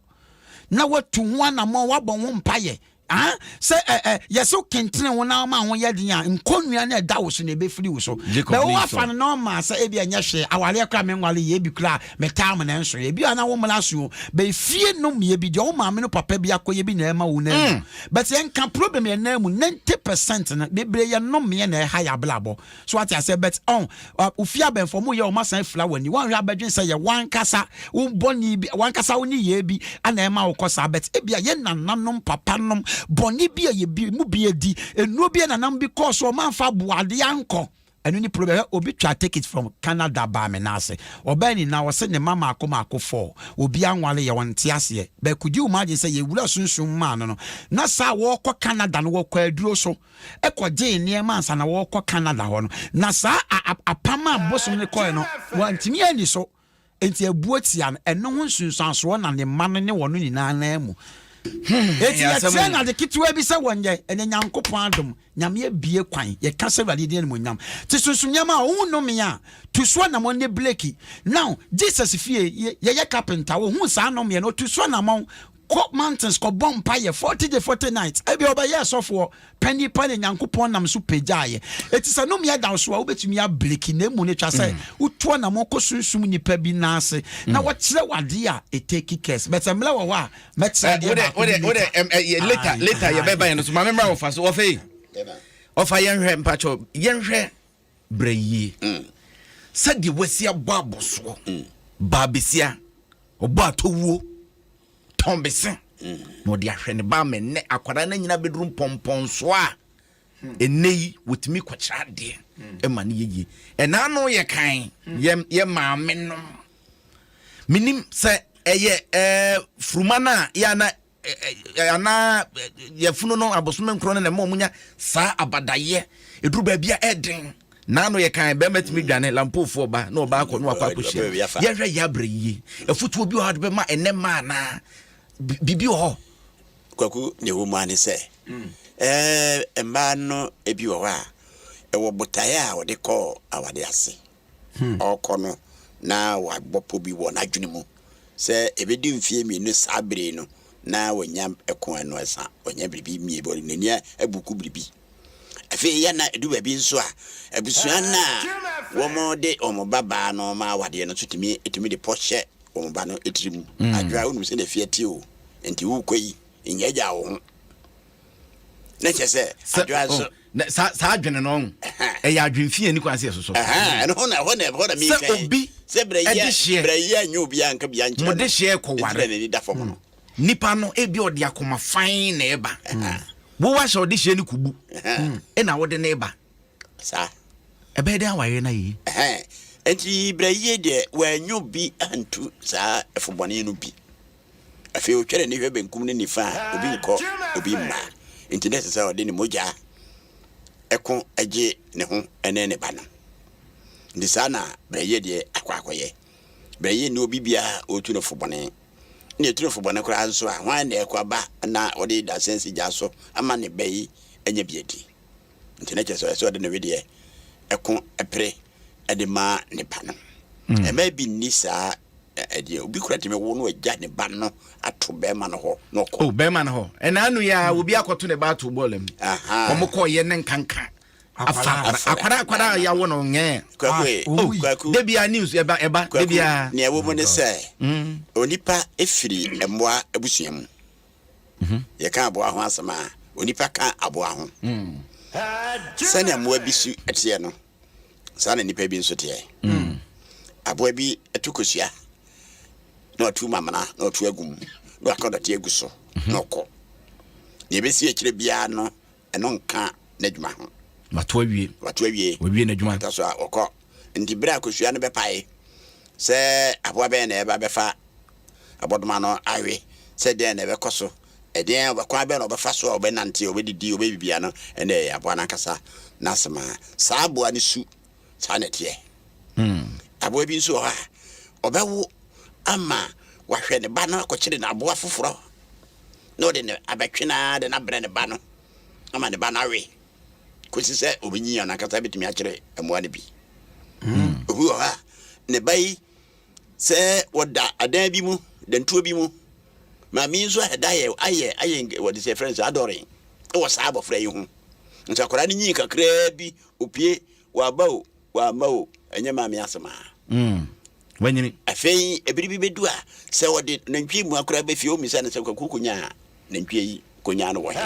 Speaker 1: na watu ho anamɔ wabɔ ho mpayɛ Aah sɛ ɛ ɛ yɛse wo kentene wo na woma ho yɛ den a, nkɔnnua no a ɛda wo so no ɛbɛfiri wo so. Bɛ wo afa no normal sɛ ebia ɛnyɛ hwee, awareɛ koraa menware yɛ, ebi koraa metaa mo nanso ɛ, ebia na wo mmra so o, bɛ efie nnommeɛ bi, deɛ wo maame no papa bi akɔyɛ bi na ɛma wo nan mu. But yɛnka problem yɛn nan mu, 90 percent no, bebree yɛ nnommeɛ na ɛha yɛn abrabɔ. so wate asɛ but ɔn uh, ofi abɛnfo mo yɛ ɔma san fila w'ani wɔnhwɛ abɛdwen sɛ yɛ wankasa wo bɔne bi wankasa wo ne yɛ bi ana ɛma wo kɔ saa but ebia yɛ nananom papa nom bɔne bi a yɛ bi mu bi adi enuo bi nanam bi kɔɔ so ɔma nfa boade ankɔ ɛno ni problem obi twa ticket from canada baa me naase ɔbaa ni na ɔse ne ma maako maako fɔɔ obi anwale yɛ ɔnte aseɛ bɛkudi wo maagye sɛ yɛwura sunsum maa no no na saa wɔkɔ canada no wɔkɔ aduro so kɔgyee nneɛma ansa na wɔrekɔ Canada hɔ no, na saa a, a, apam a bosom no kɔe no, wantumi anni so. Enti abuo tia no. Ɛno ho nsunsuansoɔ na ne mma no ne wɔn nyinaa nan mu. Hmm, Enti ɛyɛ asɛm yɛkyerɛ o. no ade ketewa bi sɛ wɔnyɛ, ɛnɛ Nyankopɔn adom, Nyame abue kwan, yɛka sɛ Awurade din animuonyam. Te sunsum nneɛma a wo nnome a, tu so anammɔn ne bleki. Now, Jesus fie, yɛ, yɛyɛ kapenta, wohuu saa nnomeɛ no, tu so anammɔn, Kɔ mountains kɔ bɔ mpa yɛ forty day forty night ɛbi a ɔbɛyɛ ɛsɔfoɔ pɛ nipa na nyankopɔn nam so pɛ gya yɛ eti sɛ nom yɛ daw so a wobɛtumi a bleki na emu no twa sɛ mm. wotu anamɔ kɔ sunsum nipa bi na ase mm. na wɔkyerɛ wade a eteki kɛs bɛtɛ mmerɛ wɔ hɔ a mɛkyerɛ eh, deɛ baako bi later eh, later later yɛbɛba yɛn no so maame mmerɛ wɔfa so wɔfɛ yi ɔfa yɛnhwɛ mpakyɛw yɛnhwɛ Bra yie sɛdeɛ wasi abɔ abɔsoɔ baa besia ɔbɔ atɔwuo tɔn bese na ɔde ahwɛ ne ba ama nnɛ akwadaa no nyina bɛduru mpɔmpɔnsoɔ a ɛnnɛ yi wɔtumi kɔkyerɛ adeɛ ɛma no yɛyie ɛna ano yɛ kan yɛ maame nom menim sɛ ɛyɛ furuma no a yɛ ana anaa yɛfunu no abosome nkron no na ɛma wɔn nya saa abadayɛ eduru baabi a ɛden naano yɛ kan bɛrima tumi mm. dwane lampofo ɔba na ɔba akɔ no akɔ akɔhyia yɛhwɛ yɛ abere yie afutuo bi wɔ hɔ de bɛma ɛnɛ maa na biribi wɔ hɔ. kwaku
Speaker 2: na ɛwɔ mu ane sɛ mm. ɛɛ mmaa no ebi wɔ hɔ a ɛwɔ botaeɛ a wɔde kɔɔ awade ase. ɔrekɔ no, na wabɔ pɔ bi wɔ n'adwene mu sɛ ɛbɛdu mfeɛ mmienu saa berɛ yi no na wanya ɛko ɛno ɛsa, wanya biribi mmie bɔ, n'ani abuku biribi. Afei yɛ na ɛdu baabi nso a, abusua no a wɔde wɔn ba baa no ma awadeɛ no nso tumi tumi de pɔ hyɛ wɔn ba no tiri mu. Adwoa, wonim sɛdeɛ fie te o, nti worekɔ yi, nnyaagyaa wo ho. na kyɛ sɛ adwoa nso oh, saa
Speaker 1: saa adwene no ɔn ɛyɛ adwene fi ani kwan sɛ ɛsosɔ ɛno hɔ na hɔ na
Speaker 2: hɔ na mi sɛ obi sɛ brɛ
Speaker 1: yɛ
Speaker 2: brɛ yɛ nyɛ obi a nka bi a nkyɛn mo de hyɛ kɔ ware
Speaker 1: ɛdi da fam no hmm.
Speaker 2: nipa no ebi
Speaker 1: ɔde akoma fan na ɛba wo wa hyɛ ɔde hyɛ ne kubu hmm. ɛna ɔde ne ba saa
Speaker 2: ɛbɛyɛ dɛ
Speaker 1: awayɛ na yie ɛnti
Speaker 2: brɛ yie deɛ wɔanyo bi antu saa ɛfobɔne no bi Afei ɔtwa n'ani hwɛ benkum ne nifa a, obi nkɔ, obi mma. Enti na ɛsɛ sɛ ɔde ne mogya ko gye ne ho ne ne ba no. Nti saa na Berɛyɛ deɛ akɔ akɔyɛ. Berɛyɛ nni obi biara a ɔretu no fo bɔne. Ɛnna ɛtu no fo bɔne koraa nso a, hwan na ɛkɔ aba na ɔde dadesɛn si gya so ama ne ba yi anya bi adi? Nti na kyerɛ sɛ ɔyɛ sɛ ɔde ne wedeɛ ko pere de ma ne ba no. Mmaa bi nni saa Na ɛdeɛ, obi kura tumi wo no agya ne ba no ato bɛrima no hɔ na ɔkɔ. O bɛrima no hɔ. Ɛna
Speaker 1: ano yi a hmm. obi akɔto ne ba ato bɔɔla mu. Wɔn kɔ yɛ ne nkanka. Akwara akwara a yɛawo no nyɛ. Kwakoe. Ah, oh, Kwaku.
Speaker 2: Debia news ɛba
Speaker 1: ɛba. Debia. Nea ɛwɔ mu ne sɛ.
Speaker 2: Hmm. Onipa efiri mmoa abusua mu. Mhm. Yɛka aboa ho asɛm a onipa ka aboa ho. Hmm. Sɛnea mmoa bi su ɛteɛ no. saa na nnipa bi nso teɛ hmm. aboa bi to kosua na watu mamena na watu agu mu na waka dɔte agu so mhm. na ɔkɔ deɛ ɛbɛsi akyirɛ biara no ɛno nka n'adwuma ho wato awie
Speaker 1: wato awie wawie n'adwuma ta so a ɔkɔ
Speaker 2: nti berɛ a kosua no bɛpae sɛ aboa bɛyɛ na ɛba bɛfa abɔdoma no awe sɛ dɛn na ɛbɛkɔ so Ɛdeɛn, kwan bɛn na ɔbɛfa so a ɔbɛnante, ɔbɛdidi, ɔbɛyɛ biribiara no, ɛnna ɛyɛ aboa no ankasa n'asɛm a saa aboa no su, saa na ɛteɛ. Aboa bi nso wɔ hɔ a, ɔbɛwo ama wahwɛ ne ba no akɔkyere no aboa foforɔ, na ɔde no abɛtwe no ara de no abrɛ ne ba no ama ne ba no awe kɔsi sɛ ɔbɛnyin a, ɔno ankasa bɛtumi akyere mmoa no bi. Obi wɔ hɔ a, ne ba yi Sɛ wɔda adan bi mu, dantuo bi mu, maame nso ɛda yɛ ayɛ ayɛ wɔde sɛ fɛn sɛ adɔren wɔ saa abɔfra yi ho. Nso akwadaa no nyin kakraa bi opie waba o wama o ɛnyɛ maame asɛm a. Mm.
Speaker 1: Wanyini. Afei
Speaker 2: ebiri bi bɛdu a sɛ wɔde nantwie mu akora bɛ fie omisa no sɛ kwaku konyaa nantwie yi konyaa no wɔ he.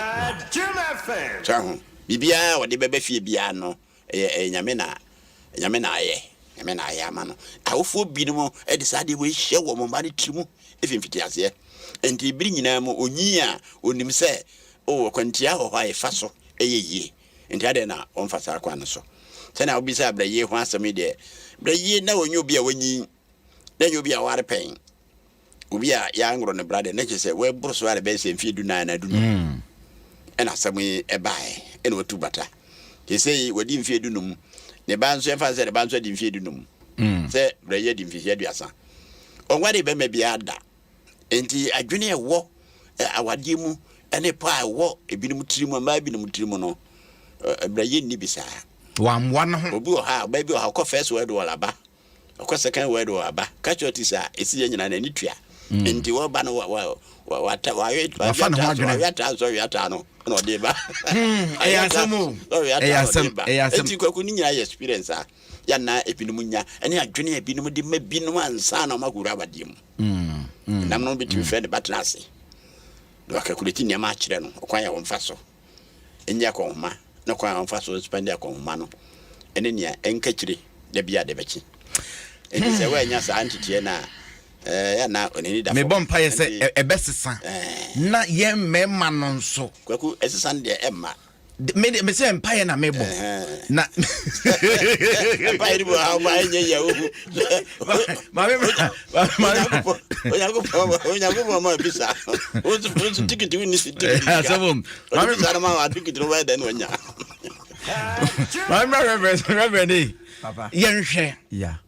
Speaker 2: Sɛ ho biribiara wɔde bɛbɛ fie biara no Ɛyɛ ɛyɛ Nyame na Nyame na ayɛ Nyame na ayɛ ama no. Awofoɔ binom de saa adeɛ wei hyɛ wɔn mma no tiri mu firi mfitiaseɛ. Nti bere nyinaa mu ɔnyin a ɔnim sɛ oh ɔkwantia wɔ hɔ a yɛfa so yɛ yie. Nti adɛn na wɔmfa saa kwan no so. Sɛnea wobisaa brɛyie ho asɛm yi deɛ, brɛyie na ɔnyɛ obi a wanyin na ɛnyɛ obi a ɔware pɛn. Obi a yɛanworɔ no bra dɛ, na kyerɛ sɛ woaboro so ara bɛyɛ sɛ mfeɛ dunan anaa dunum mm. ɛna asɛm yi ɛbaeɛ ɛna watu bata. Sesei wadi mfeɛ dunum, ne ba nso yɛmfa sɛ ne ba nso adi mfeɛ dunum mm. sɛ berɛ yi adi mfehyia aduasa. Ɔnware bɛma biara da. Enti adwene a ɛwɔ awadeɛ mu ne pɔ a ɛwɔ ebinom tiri mu, mmaa binom tiri mu no, berɛ yi nni bi saa. Wammoa no
Speaker 1: ho. Obi wɔ ha, ɔbaa bi wɔ ha, ɔkɔ
Speaker 2: first world war aba. Ɔkɔ second word wɔ aba casualties a ɛsi yɛ nyina n'ani tua mm. nti wɔba no waweataa sɛ ɔweataa no na ɔde ba ɛti kwaku no nyinaa yɛ experience a yɛna ebinom nya ɛne adwene a ebinom de ma binom ansa na ɔmakɔwura awadeɛ mu mm, mm, nam no bɛtumi fɛ ne batena ase na wakakulati nneɛma akyerɛ no ɔkwan yɛ wɔmfa so nyɛ akɔnhoma ne kwan a wɔfa so nso nyɛ akɔnhoma no ne nea ɛnka akyiri da bi ade bɛkye. Enti sɛ woannya saa nteteɛ no a, ɛyɛ na onani da fam. Mebɔ mpaeɛ sɛ
Speaker 1: ɛbɛsesa na yɛn mmarima no nso. Kwaku, ɛsesa no deɛ
Speaker 2: ɛmma. Me deɛ mesɛ
Speaker 1: mpaeɛ na mebɔ. Na.
Speaker 2: Mpaeɛ no mu ɔhaw paa ɛnyɛ yia wohu. Maame onyankopɔn ma bi saa wonso tikiti wonni si tikiti no wayɛ dɛn na
Speaker 1: wanya reverend ei yɛnhwɛ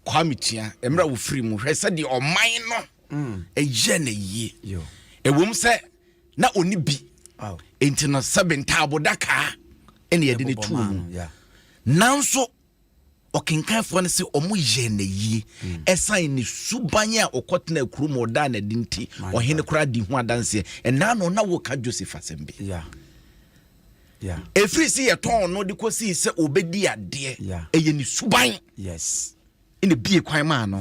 Speaker 1: kwaa metua mmerɛ a wɔfiri mu hwɛ sɛdeɛ ɔman no mm. ɛyɛ na yie ɛwom sɛ na ɔni bi enti no sɛ bentaabodakaa ɛne yɛde no tuu mu nanso Ɔkenkanfoɔ no sɛ wɔn yɛɛ no ayie mm. ɛsan ne suban a ɔkɔtena kuro mu ɔdaa no adi nti ɔhene koraa di ho adanseɛ ɛnaa no na woka Joseph asɛm bi ɛfiri sɛ yɛtɔn no de kɔsii sɛ ɔbɛdi adeɛ ɛyɛ ne suban ɛna bie kwan maa no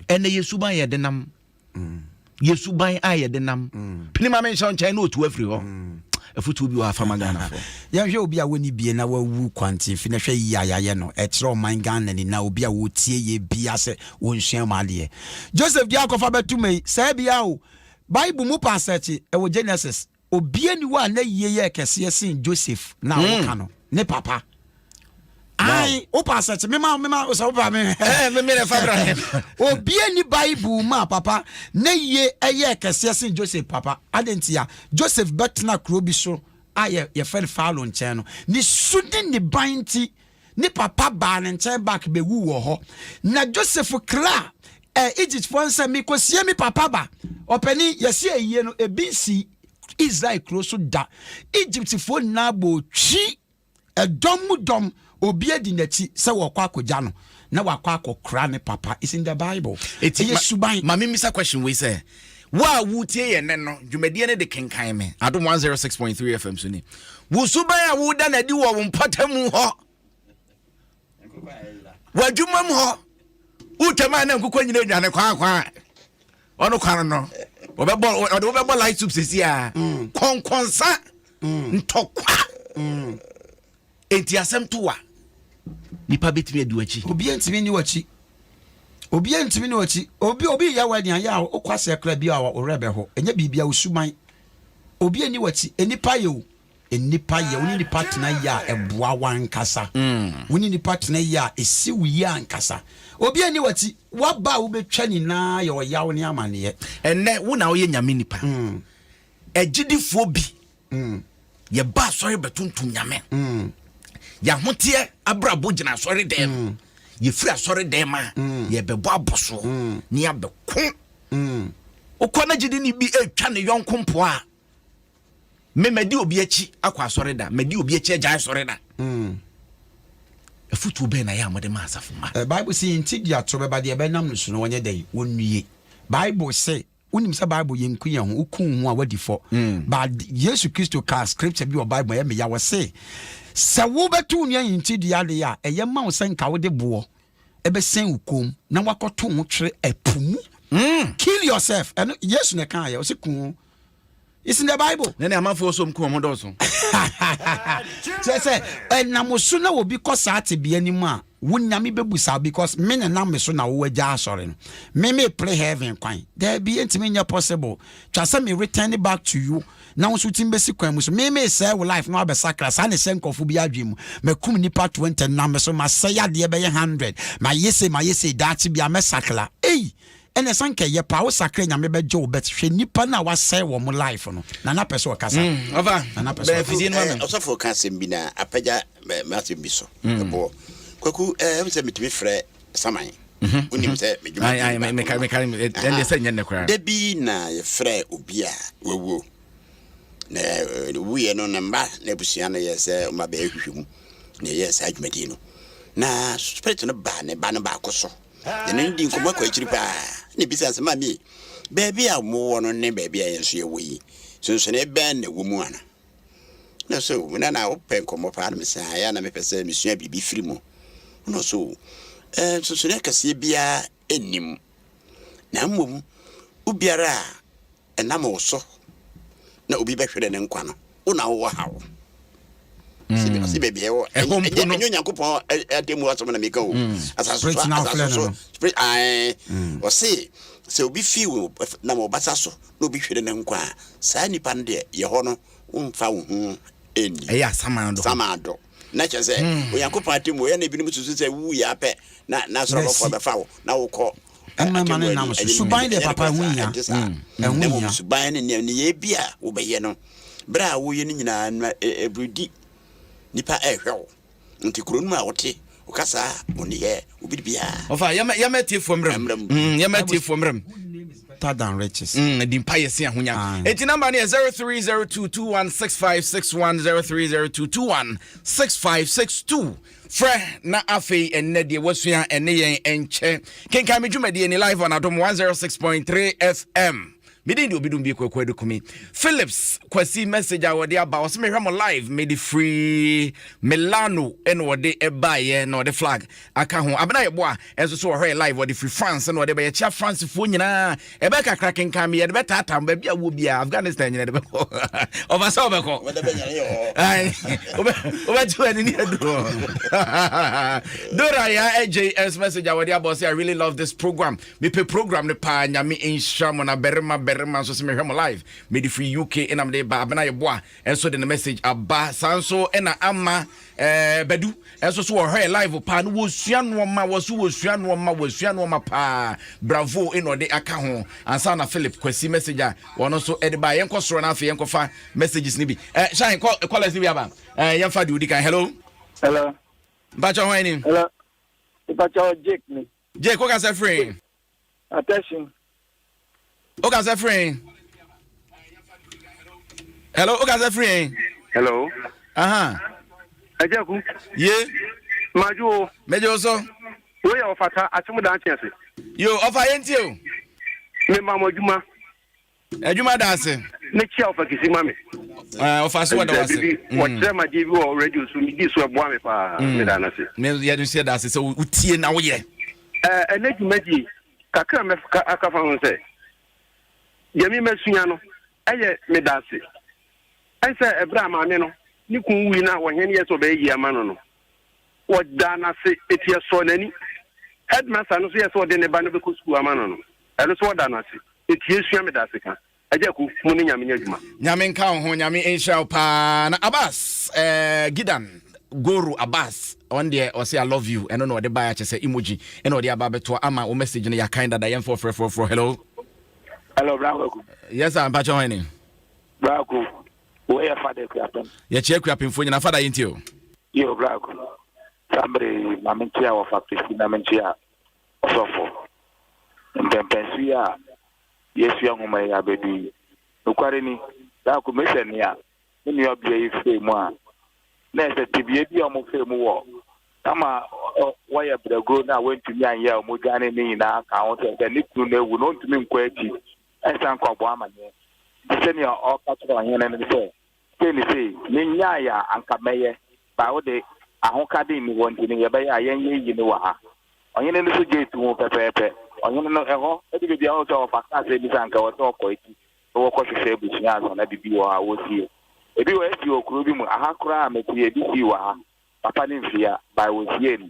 Speaker 1: ɛna yɛ suban yɛ denam mm. yɛ suban a yɛde nam mm. pene ma menhyɛ nkyɛn na ɔtu afiri hɔ mm. afotuo bi wɔ afama ghanafoɔ yɛnhwɛ obi a wɔni
Speaker 3: bie na wawu kwantefi na hwɛ yi a yɛayɛ no ɛkyerɛ ɔman ghana ni na obi a wɔtie yɛ bia sɛ wɔnsua mu adeɛ joseph deɛ akɔfa bɛtomai saa bia o bible mu paasɛkye ɛwɔ genesis Obia ni hɔ a nayie yɛɛ kɛseɛ sen Joseph no a woka no, ne papa. Ae, wopɛ asɛkye, mema, mema, sɛ wopɛ a me. Ɛɛ, me mene fabra.
Speaker 1: Obia ni
Speaker 3: Bible mu a papa nayie ɛyɛɛ kɛseɛ sen Joseph papa. Adɛn nti a Joseph bɛtena kuro bi so a yɛ, yɛfrɛ no Pharaoh nkyɛn no, ne su ne ne ban nti, ne papa baa ne nkyɛn back bɛwuu wɔ hɔ na joseph kra eh, egypt foɔ nsɛm mekɔsie me papa ba ɔpani yɛsi ayie no ebi nsi israel kuro so da egypt foɔ nyinaa bɔɔ twi ɛdɔm mu dɔm obi adi n'akyi sɛ wɔkɔ akɔgya no na wakɔ akɔkora ne papa is in the bible ɛyɛ suban ma
Speaker 1: memmisa question wei sɛ Wo a woretie yɛn nnɛ no, dwumadie no de kenkan me, Adom 106.3 FM so ni. Wo suban a woda no adi wɔ wo mpɔtamu hɔ, w'adwuma mu hɔ, wotwam a na nkokɔ nyina adwane kwaakwaa ɔno kwan no ɔde wobɛbɔ light soup sɛsi a mm. kɔnkɔnsa mm. ntɔkwa mm. Enti asɛm to wo a, nnipa bɛtumi adi w'akyi. Obiara ntumi nni w'akyi.
Speaker 3: Obiara ntumi nni w'akyi. Obi obi yɛ wo ade ayɛ a wokɔ asɛ kora bi a wo werɛ bɛho. Ɛnyɛ biribi a wo suban. Obiara nni w'akyi. Nnipa yɛ o. Nnipa yɛ. Wo ne nnipa tena yie a ɛboa wo ankasa. Wo ne nnipa tena yie a ɛsi wo yie ankasa. Obiara nni w'akyi. W'aba a wobɛtwa nyinaa yɛ ɔyaw ne amaneɛ. Ɛnnɛ wo na woyɛ
Speaker 1: Nyame nipa. Agyidifoɔ bi Mm. Yɛba asɔre bɛtontom Nyame. Mm. Yɛahoteɛ abrabɔ gyina asɔre dɛm. Mm. Yɛfiri asɔre dɛm a, mm. yɛbɛbɔ abɔsoɔ mm. ne abɛko. Mm. Wokɔ na gyidi ne bi ɛtwa ne yɔnko mpoa a, me madi obi akyi akɔ asɔre da madi obi akyi agyae asɔre da mm. afutuo bɛn na yɛ a mode ma asafo ma eh, bible sɛ yɛnti di
Speaker 3: atorɔ bɛba deɛ ɛbɛnam no so no wɔnyɛ dɛn wɔnwie bible sɛ Wonim sɛ Bible yɛ nku yɛn ho, woku wo ho a woadi fɔ. But Yesu Kristo kaa scripture bi wɔ Bible ɛyɛ meya wɔ se, sɛ wobɛto wo nua hintidua ade a, ɛyɛ ma wo sɛ nka wode boɔ ɛbɛsɛn wo kɔn mu na wakɔto wo twere ɛpo mu. Kill yourself. Ɛno Yesu na ɛkaeɛ, ɔse ku wo ho. It's in the Bible. Nene amanfo so mko wɔn
Speaker 1: dɔɔso. Kyerɛ sɛ
Speaker 3: ɛnam so na obi kɔ saa tebea no mu a wo nyame bɛbu saa because me ne nam me so na wowɔ agya asɔre no me me pere heaven kwan daabi ɛntumi nyɛ possible twa sɛ me return back to you na wo nso wotumi bɛsi kwan mu so me me sɛe wo life na wabɛsakra saa ne sɛ nkurɔfo bi adwene mu makum nnipa 20 nam me so masɛe adeɛ bɛyɛ 100 mayɛ sei mayɛ sei daakye bia mɛsakra ei Ɛnɛ sɛ anka ɛyɛ paa wo sakra nyame bɛgye wo bet hwɛ nnipa no a wasɛe wɔ mo life no nana pɛ sɛ ɔkasa ɔfa nana pɛ sɛ
Speaker 1: bɛfidie no ma
Speaker 3: me ɔsɔfo ka
Speaker 2: asɛm bi na apagya m'asɛm bi so ɛboɔ kwaku ɛm sɛ metumi frɛ saman mhm. wonim sɛ medwumadeɛndeɛ
Speaker 1: sɛ nyɛ nnɛ koraa da bi na
Speaker 2: yɛfrɛ obi a wawuo na wuyɛ no ne mma na abusua no yɛ sɛ ma bɛyɛ hwehwɛ mu na ɛyɛ saa adwumadie no na spirit no baa ne ba no baako so Yɛne no dii nkɔmmɔ kɔ akyiri paa na ebisaa sɛ, Maame, baabi a mowɔ no ne baabi a yɛn nso yɛwɔ yi, nsonsonoe bɛn na ɛwɔ mu ana? Ɔno so, na na ɔpɛ nkɔmmɔ paa na mesaa, ɛyɛ a na mepɛ sɛ mesua biribi firi mu. Ɔno so, ɛɛ, nsonsonoe kɛseɛ biara nnim. Na mmom, obiara a Ɛnam wo so na obi bɛhwere ne nkwa no, wo na wowɔ haw. Sɛ bi- sɛ baabi a ɛwɔ Ɛhɔ ɛnyɛ mpo ɛnyɛ- no- ɛnyɛ Onyankopɔn ɛ- atemmu asɛm na meka o asase so Spirit a- na asase ɔfrɛ no so no. spirit ae ɔse sɛ obi fi wo ɛf- nam ɔbasa so na obi hwere ne nkwa a saa nipa no deɛ yɛhɔ no womfa wo ho ɛnni ɛyɛ asaman do sama
Speaker 1: do na kyerɛ sɛ onyankopɔn atemmu ɛyɛ na ebinom susu sɛ wuyɛ apɛ na na soro Yes. abɔfoɔ bɛfa wo na wokɔ mmarima no nam
Speaker 3: so suban deɛ papa ɛho hia ɛho
Speaker 2: hia mmom suban ne nneɛma ne yɛ bi a wobɛyɛ no berɛ a woyɛ no nyinaa no ɛbiridi nipa ɛhwɛ wo nti kuro no mu a wote wokasa oniyɛ obi de biara ɔfa yɛma
Speaker 1: tiefoɔ mmerɛm yɛma tiefoɔ mmerɛm better than
Speaker 3: riches. Mm, the empire see
Speaker 1: ahunya. Ah. Eti number ni 0302216561 0302216562. frɛ na afei ɛnnɛ deɛ wasua ɛne yɛn ɛnkyɛ kenkan me dwumadie ne live on adom 106.3 fm mede de obi dum bi kwaku adukumi philips kwasi message a wɔde aba wɔsɛ mehwɛ mo live mede firi milano ɛna wɔde ɛbaeɛ na wɔde flag aka ho abena yɛboa Ɛnso so wɔhwɛɛ live wɔde firi France na wɔde bɛyɛ kyea Francefoɔ nyinaa ɛbɛ kakra kenkan me yɛde bɛtaatam baabi a wɔ biara Afghanistan nyina de bɛkɔ ɔfa sɛ wɔbɛkɔ wobɛgye w'ani ne aduro Dora ya AJS message a wɔde abɔ sɛ I really love this program mepɛ program no paa nyame nhyira mo na barima barima nso sɛ mehwɛ mo live mede firi UK ɛnam de ba abena yɛboa nso de ne message aba saa nso na ama ɛɛ eh, badu nso so wɔhwɛ live paa no wɔsua nneɛma wɔ so wɔsua nneɛma wɔsua nneɛma paa bravo ɛna ɔde aka ho ansa na philip kwasi message a wɔn nso ɛde ba yɛnkɔ soro na afei yɛnkɔfa messages no bi ɛɛ eh, shine kɔ eh, callers no bi aba ɛɛ yɛnfa deɛ odi kan hello hello mpakyɛ hɔn ni hello mpakyɛ
Speaker 10: jake ni Jake, o kasa free.
Speaker 1: Attention. O kasa free. Hello, o kasa free. Hello.
Speaker 10: Aha. Ajaku. Ye.
Speaker 1: Maju o.
Speaker 10: Meje o so.
Speaker 1: Wo yɛ ɔfata
Speaker 10: akyem dan kyɛnse. Yo, ɔfa yɛntie
Speaker 1: o. Me ma
Speaker 10: mo adwuma.
Speaker 1: Adwuma da ase. Ne kyia ɔfa kisi
Speaker 10: ma me. Ɛɛ ɔfa so
Speaker 1: ɔda ase. Bibi mm. wɔkyerɛ ma deɛ bi wɔ
Speaker 10: radio so mi di so ɛboa me paa. Mm. Me da na se. Me yɛ no se da ase
Speaker 1: sɛ wotie na woyɛ. Ɛɛ ɛnɛ dwumadie
Speaker 10: kakra mɛ aka fa ho sɛ deɛ mi mɛ sua no ɛyɛ me da ase ɛnsɛ ɛbrɛ a maame no ne kun wui na wɔhɛn yɛ sɛ ɔbɛyɛ yie ama no no. Wɔdaa no ase enti ɛsɔɔ n'ani. Headmaster no nso yɛɛ sɛ ɔde ne ba no bɛkɔ sukuu ama no no, ɛno nso wɔdaa no ase enti yɛsua me dase ka. Agya Ku, mo ne Nyame nyɛ adwuma. Nyame nka wo ho, Nyame
Speaker 1: nhyira wo paa. Na Abbas eh, Gidan Goro Abbas, ɔno deɛ ɔse I love you, ɛno na ɔde baeɛ akyɛ sɛ emoji ɛna ɔde aba abɛtoa ama wo message no yɛ akan dada, yɛmfa ɔfrɛ forɔforɔ. Hello. Hello, Bra Kwaku.
Speaker 10: Yes sir,
Speaker 1: mpakyɛ hwan ni? Bra Kwaku.
Speaker 10: Wei yɛ fada akuapem. Yɛkyɛ akuapemfoɔ
Speaker 1: nyinaa fada yɛnti o. Yɛ o bra ko.
Speaker 10: Saa mmerɛ yi ma menkyia wɔfa pesi na menkyia ɔsɔfo. Mpɛmpɛnso yi a yɛasua nwoma yi abɛdu yi, nokware ni, bra ko mesɛ nea me nuabea yi faa mu a, na ɛyɛ sɛ tebea bi a wɔfaa mu wɔ ama wɔyɛ brɛgoro no a wɔantumi anyɛ a wɔdwane ne nyinaa ka ho sɛ sɛ ne kunu no awu no ɔntumi nkɔ akyi Ɛnsan kɔ abɔ amanneɛ te sɛ nea ɔreka kyerɛ ɔhene no sɛ, Sei ne sei, minyae a anka mɛyɛ, bae wo de, ahokade nni hɔ nti, nea ɛbɛyɛ a yɛnyɛ eyi ne wɔ ha. Ɔhene no nso gyee toom pɛpɛɛpɛ. Ɔhene no, ɛhɔ de baabi a ɔwɔ sɛ ɔfa ka asɛm bi sɛ anka ɛwɔ sɛ ɔkɔ akyi na wɔkɔhwehwɛ abusua ansa na biribi wɔ hɔ a wosie. Ebi wɔ ha, esi wɔ kurow bi mu, aha koraa a mete yi, ebi sii wɔ ha, papa ne mfia, bae wosiee no.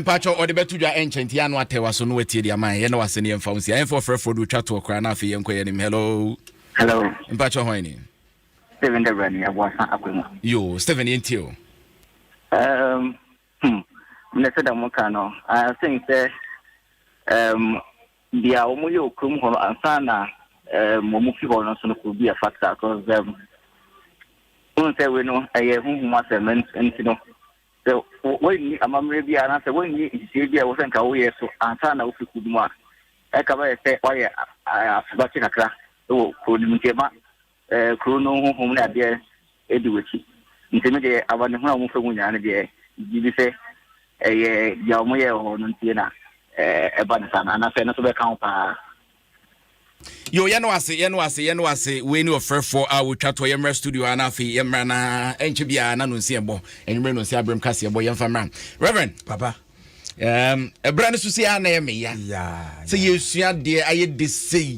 Speaker 11: Mpakyɛw
Speaker 1: ɔde bɛto dwa ɛnkyɛ nti yɛ ano atɛ waso no watie de ama yɛn na wase no yɛmfa ho nsia yɛmfa ɔfrɛfoɔ de otwa toɔ koraa na afei yɛnkɔ yɛn anim hello hello mpakyɛw hwan ni Steven Debra
Speaker 12: ni aboasa akwemu yo Steven yɛntie
Speaker 1: o um,
Speaker 12: hmm mene sɛ da mo ka no I think sɛ um, bia wɔn yɛ okurom hɔ no ansa na um, wɔn fi hɔ no nso no could be a factor because um, n sɛ wei no ɛyɛ huhum asɛm nti no Sɛ woanni amammerɛ bi anaasɛ woanni nhyehyɛe bi a ɛwɔ sɛ anka woyɛ so ansa na wofi kuw bi mu a, ɛka bɛyɛ sɛ woayɛ asobakye kakra wɔ kurow no mu. Nti ɛma kurow no honhom ne adeɛ di w'akyi. Nti me deɛ, amanehunu a wɔfa mu nyinaa no deɛ, megye di sɛ ɛyɛ deɛ wɔyɛɛ wɔ hɔ no nti na ɛba no saa no, anaasɛ ɛno nso bɛka ho paa.
Speaker 1: yo yɛne wase yɛne wase yɛne wase wei ne ɔfrɛfoɔ a wɔtwa toɔ yɛmmra studio a na afei yɛmmra na ɛnkyɛ biara na nonsi ɛbɔ ɛnwumere nonsi aberɛm kaseɛ bɔ yɛmfa mmra reverend papa
Speaker 3: um,
Speaker 1: ɛberɛ no so sɛ a na yɛ meya sɛ yɛsua deɛ ayɛ de sei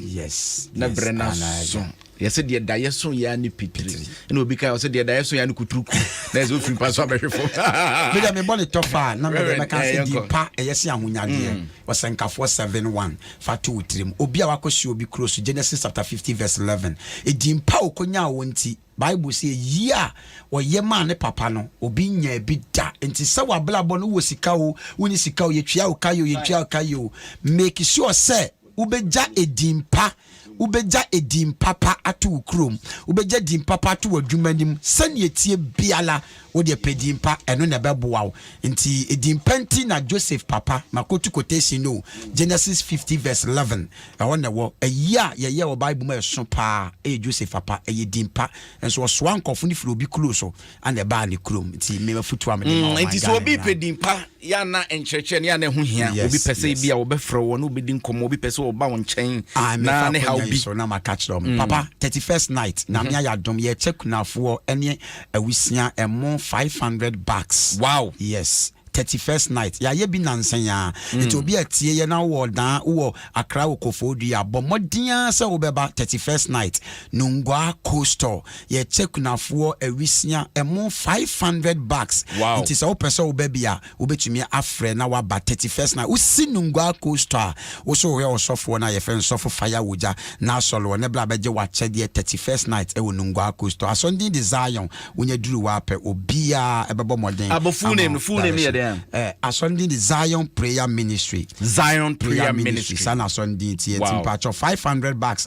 Speaker 1: na berɛ
Speaker 3: no
Speaker 1: so Yɛse deɛ daeɛ so yɛ ne pitiri ɛna obi ka ɔsɛ deɛ daeɛ so yɛ ne kuturuku na ɛsɛ ofiri pa so abɛhwe fam. Me deɛ me bɔ
Speaker 3: ne tɔfa a na me deɛ mɛka sɛ di pa ɛyɛ se ahonyadeɛ mm. ɔsɛnkafoɔ seven one fa to wo tirim obi a wakɔsi obi kuro so Genesis chapter fifty verse eleven ɛdi mpa okonyaa wɔn ti bible sɛ ɛyi a ɔyɛ maa ne papa no obi nya bi da nti sɛ wabrabɔ no wɔ sika o wonni sika o yɛtwia o ka yɛ o yɛntwia o ka yɛ o make sure sɛ Wobɛgya edin pa, wobɛgya edin papa ato wo kurom, wobɛgya edin papa ato w'adwuma anim, sɛnea ɛteɛ biara wo deɛ pɛ edin pa, ɛno na ɛbɛboa wo. Nti edin pa nti na Joseph papa, makɔtu quotation no o, Genesis 50 vs 11, ɛhɔ na ɛwɔ, ayi a yɛyɛɛ wɔ Bible mu a ɛso paa yɛ Joseph papa, ɛyɛ edin pa, nso ɔsoaa nkurɔfo no firi obi kuro so ana ɛbaa ne kurom nti me afotu a mede ma wɔn nti sɛ obi pɛ din pa
Speaker 1: yɛ ana nkyerɛkyerɛ ne ana ɛho hia obi pɛ sɛ bi a wɔbɛfrɛ wɔn na obɛdi nkɔmmɔ obi pɛ sɛ ɔba wɔn nkyɛn ah, na ne ha obi na maka kyerɛ wɔn mm.
Speaker 3: papa thirty first night na me mhm. ayɛ adom yɛkyɛ kunafoɔ ɛne awusia ɛmo five hundred bucks wow yes
Speaker 1: thirty
Speaker 3: first night yɛayɛ bi nansa yi ara mm. nti obi a tie yɛ na wowɔ dan wowɔ akra wɔ kofo du yɛ abɔ mmɔden ara sɛ wobɛba thirty first night nungua coastal yɛkyɛ kunafoɔ awisia ɛmo five hundred bucks Wow. nti sɛ wopɛ
Speaker 1: sɛ woba bi
Speaker 3: a wobɛtumi afrɛ na waba thirty first na wosi nungua coastal a woso woyɛ ɔsɔfoɔ no a yɛfrɛ no sɔfo faya wogya na asɔre wɔ ne bla bɛgye wakyɛdeɛ thirty first night ɛwɔ nungua coastal asɔre din de zion wonya duru hɔ a pɛ obiaa ɛbɛbɔ mmɔden Abɔ full ama name no, wo full name
Speaker 1: no yɛ direction. dɛn? Ɛ, asɔre din de
Speaker 3: zion prayer ministry Zion Prayer
Speaker 1: Ministry. saa na asɔre din teɛ
Speaker 3: nti Wow. mpakyɛw five hundred bucks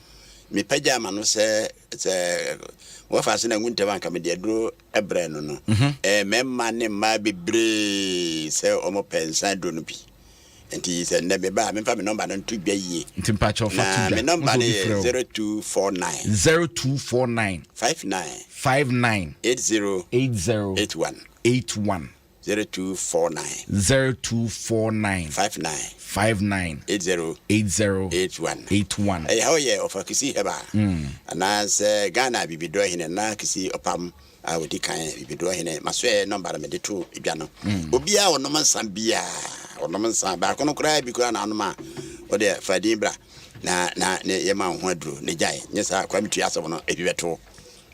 Speaker 2: mepagyaa m'ano sɛ sɛ wɔfa ase na ngu ntam anka mede aduro brɛ no no mhm. eh, mmarima ne mmaa bebree sɛ wɔpɛ nsa aduro no bi nti sɛ nnɛ meba a memfa me nɔmba no nto dwa yie nti mpakyɛ ɔfa to dwa
Speaker 1: me nɔmba
Speaker 2: no yɛ 0249 0249 59 59 80 80 81 81 Zero two four nine. Zero two four nine. Five nine. Five nine. Eight zero. Eight zero. Eight one. Eight one. Ɛyɛ hɔ yɛ ɔfa kisi hɛba. Anaasɛ Ghana bibidɔ hene na kisi ɔpam a ɔdi kan bibidɔ hene masoɛ nɔmba no mede to dwa no. Obia a ɔnom nsa bia ɔnom nsa baako no koraa bi koraa na anom a ɔdeɛ fa din bra na na yɛma wo ho aduro na gyae nyɛ saa Kwame tua asɛm no ebi bɛto wo.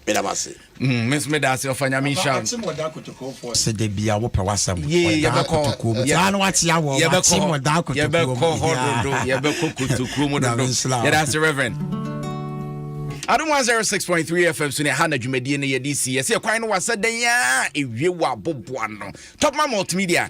Speaker 2: meda wase. Mm me nso meda
Speaker 1: ase ɔfa nyame nhyira wo. Atim ɔdaa kotokuo foɔ sɛ
Speaker 3: da bia wopɛ wasɛm. Yee yɛbɛkɔ hɔ kotokuo
Speaker 1: mu saa no watia
Speaker 3: wɔ atim ɔdaa kotokuo mu. Yɛbɛkɔ hɔ dodo
Speaker 1: yɛbɛkɔ kotokuo mu dodo. Yɛda ase Reverend. Adom 106.3 FM so ne ɛha na dwumadie no yɛde si yɛsɛ kwan no wasɛ dɛn a ɛwie wɔ aboboa no Topman Multimedia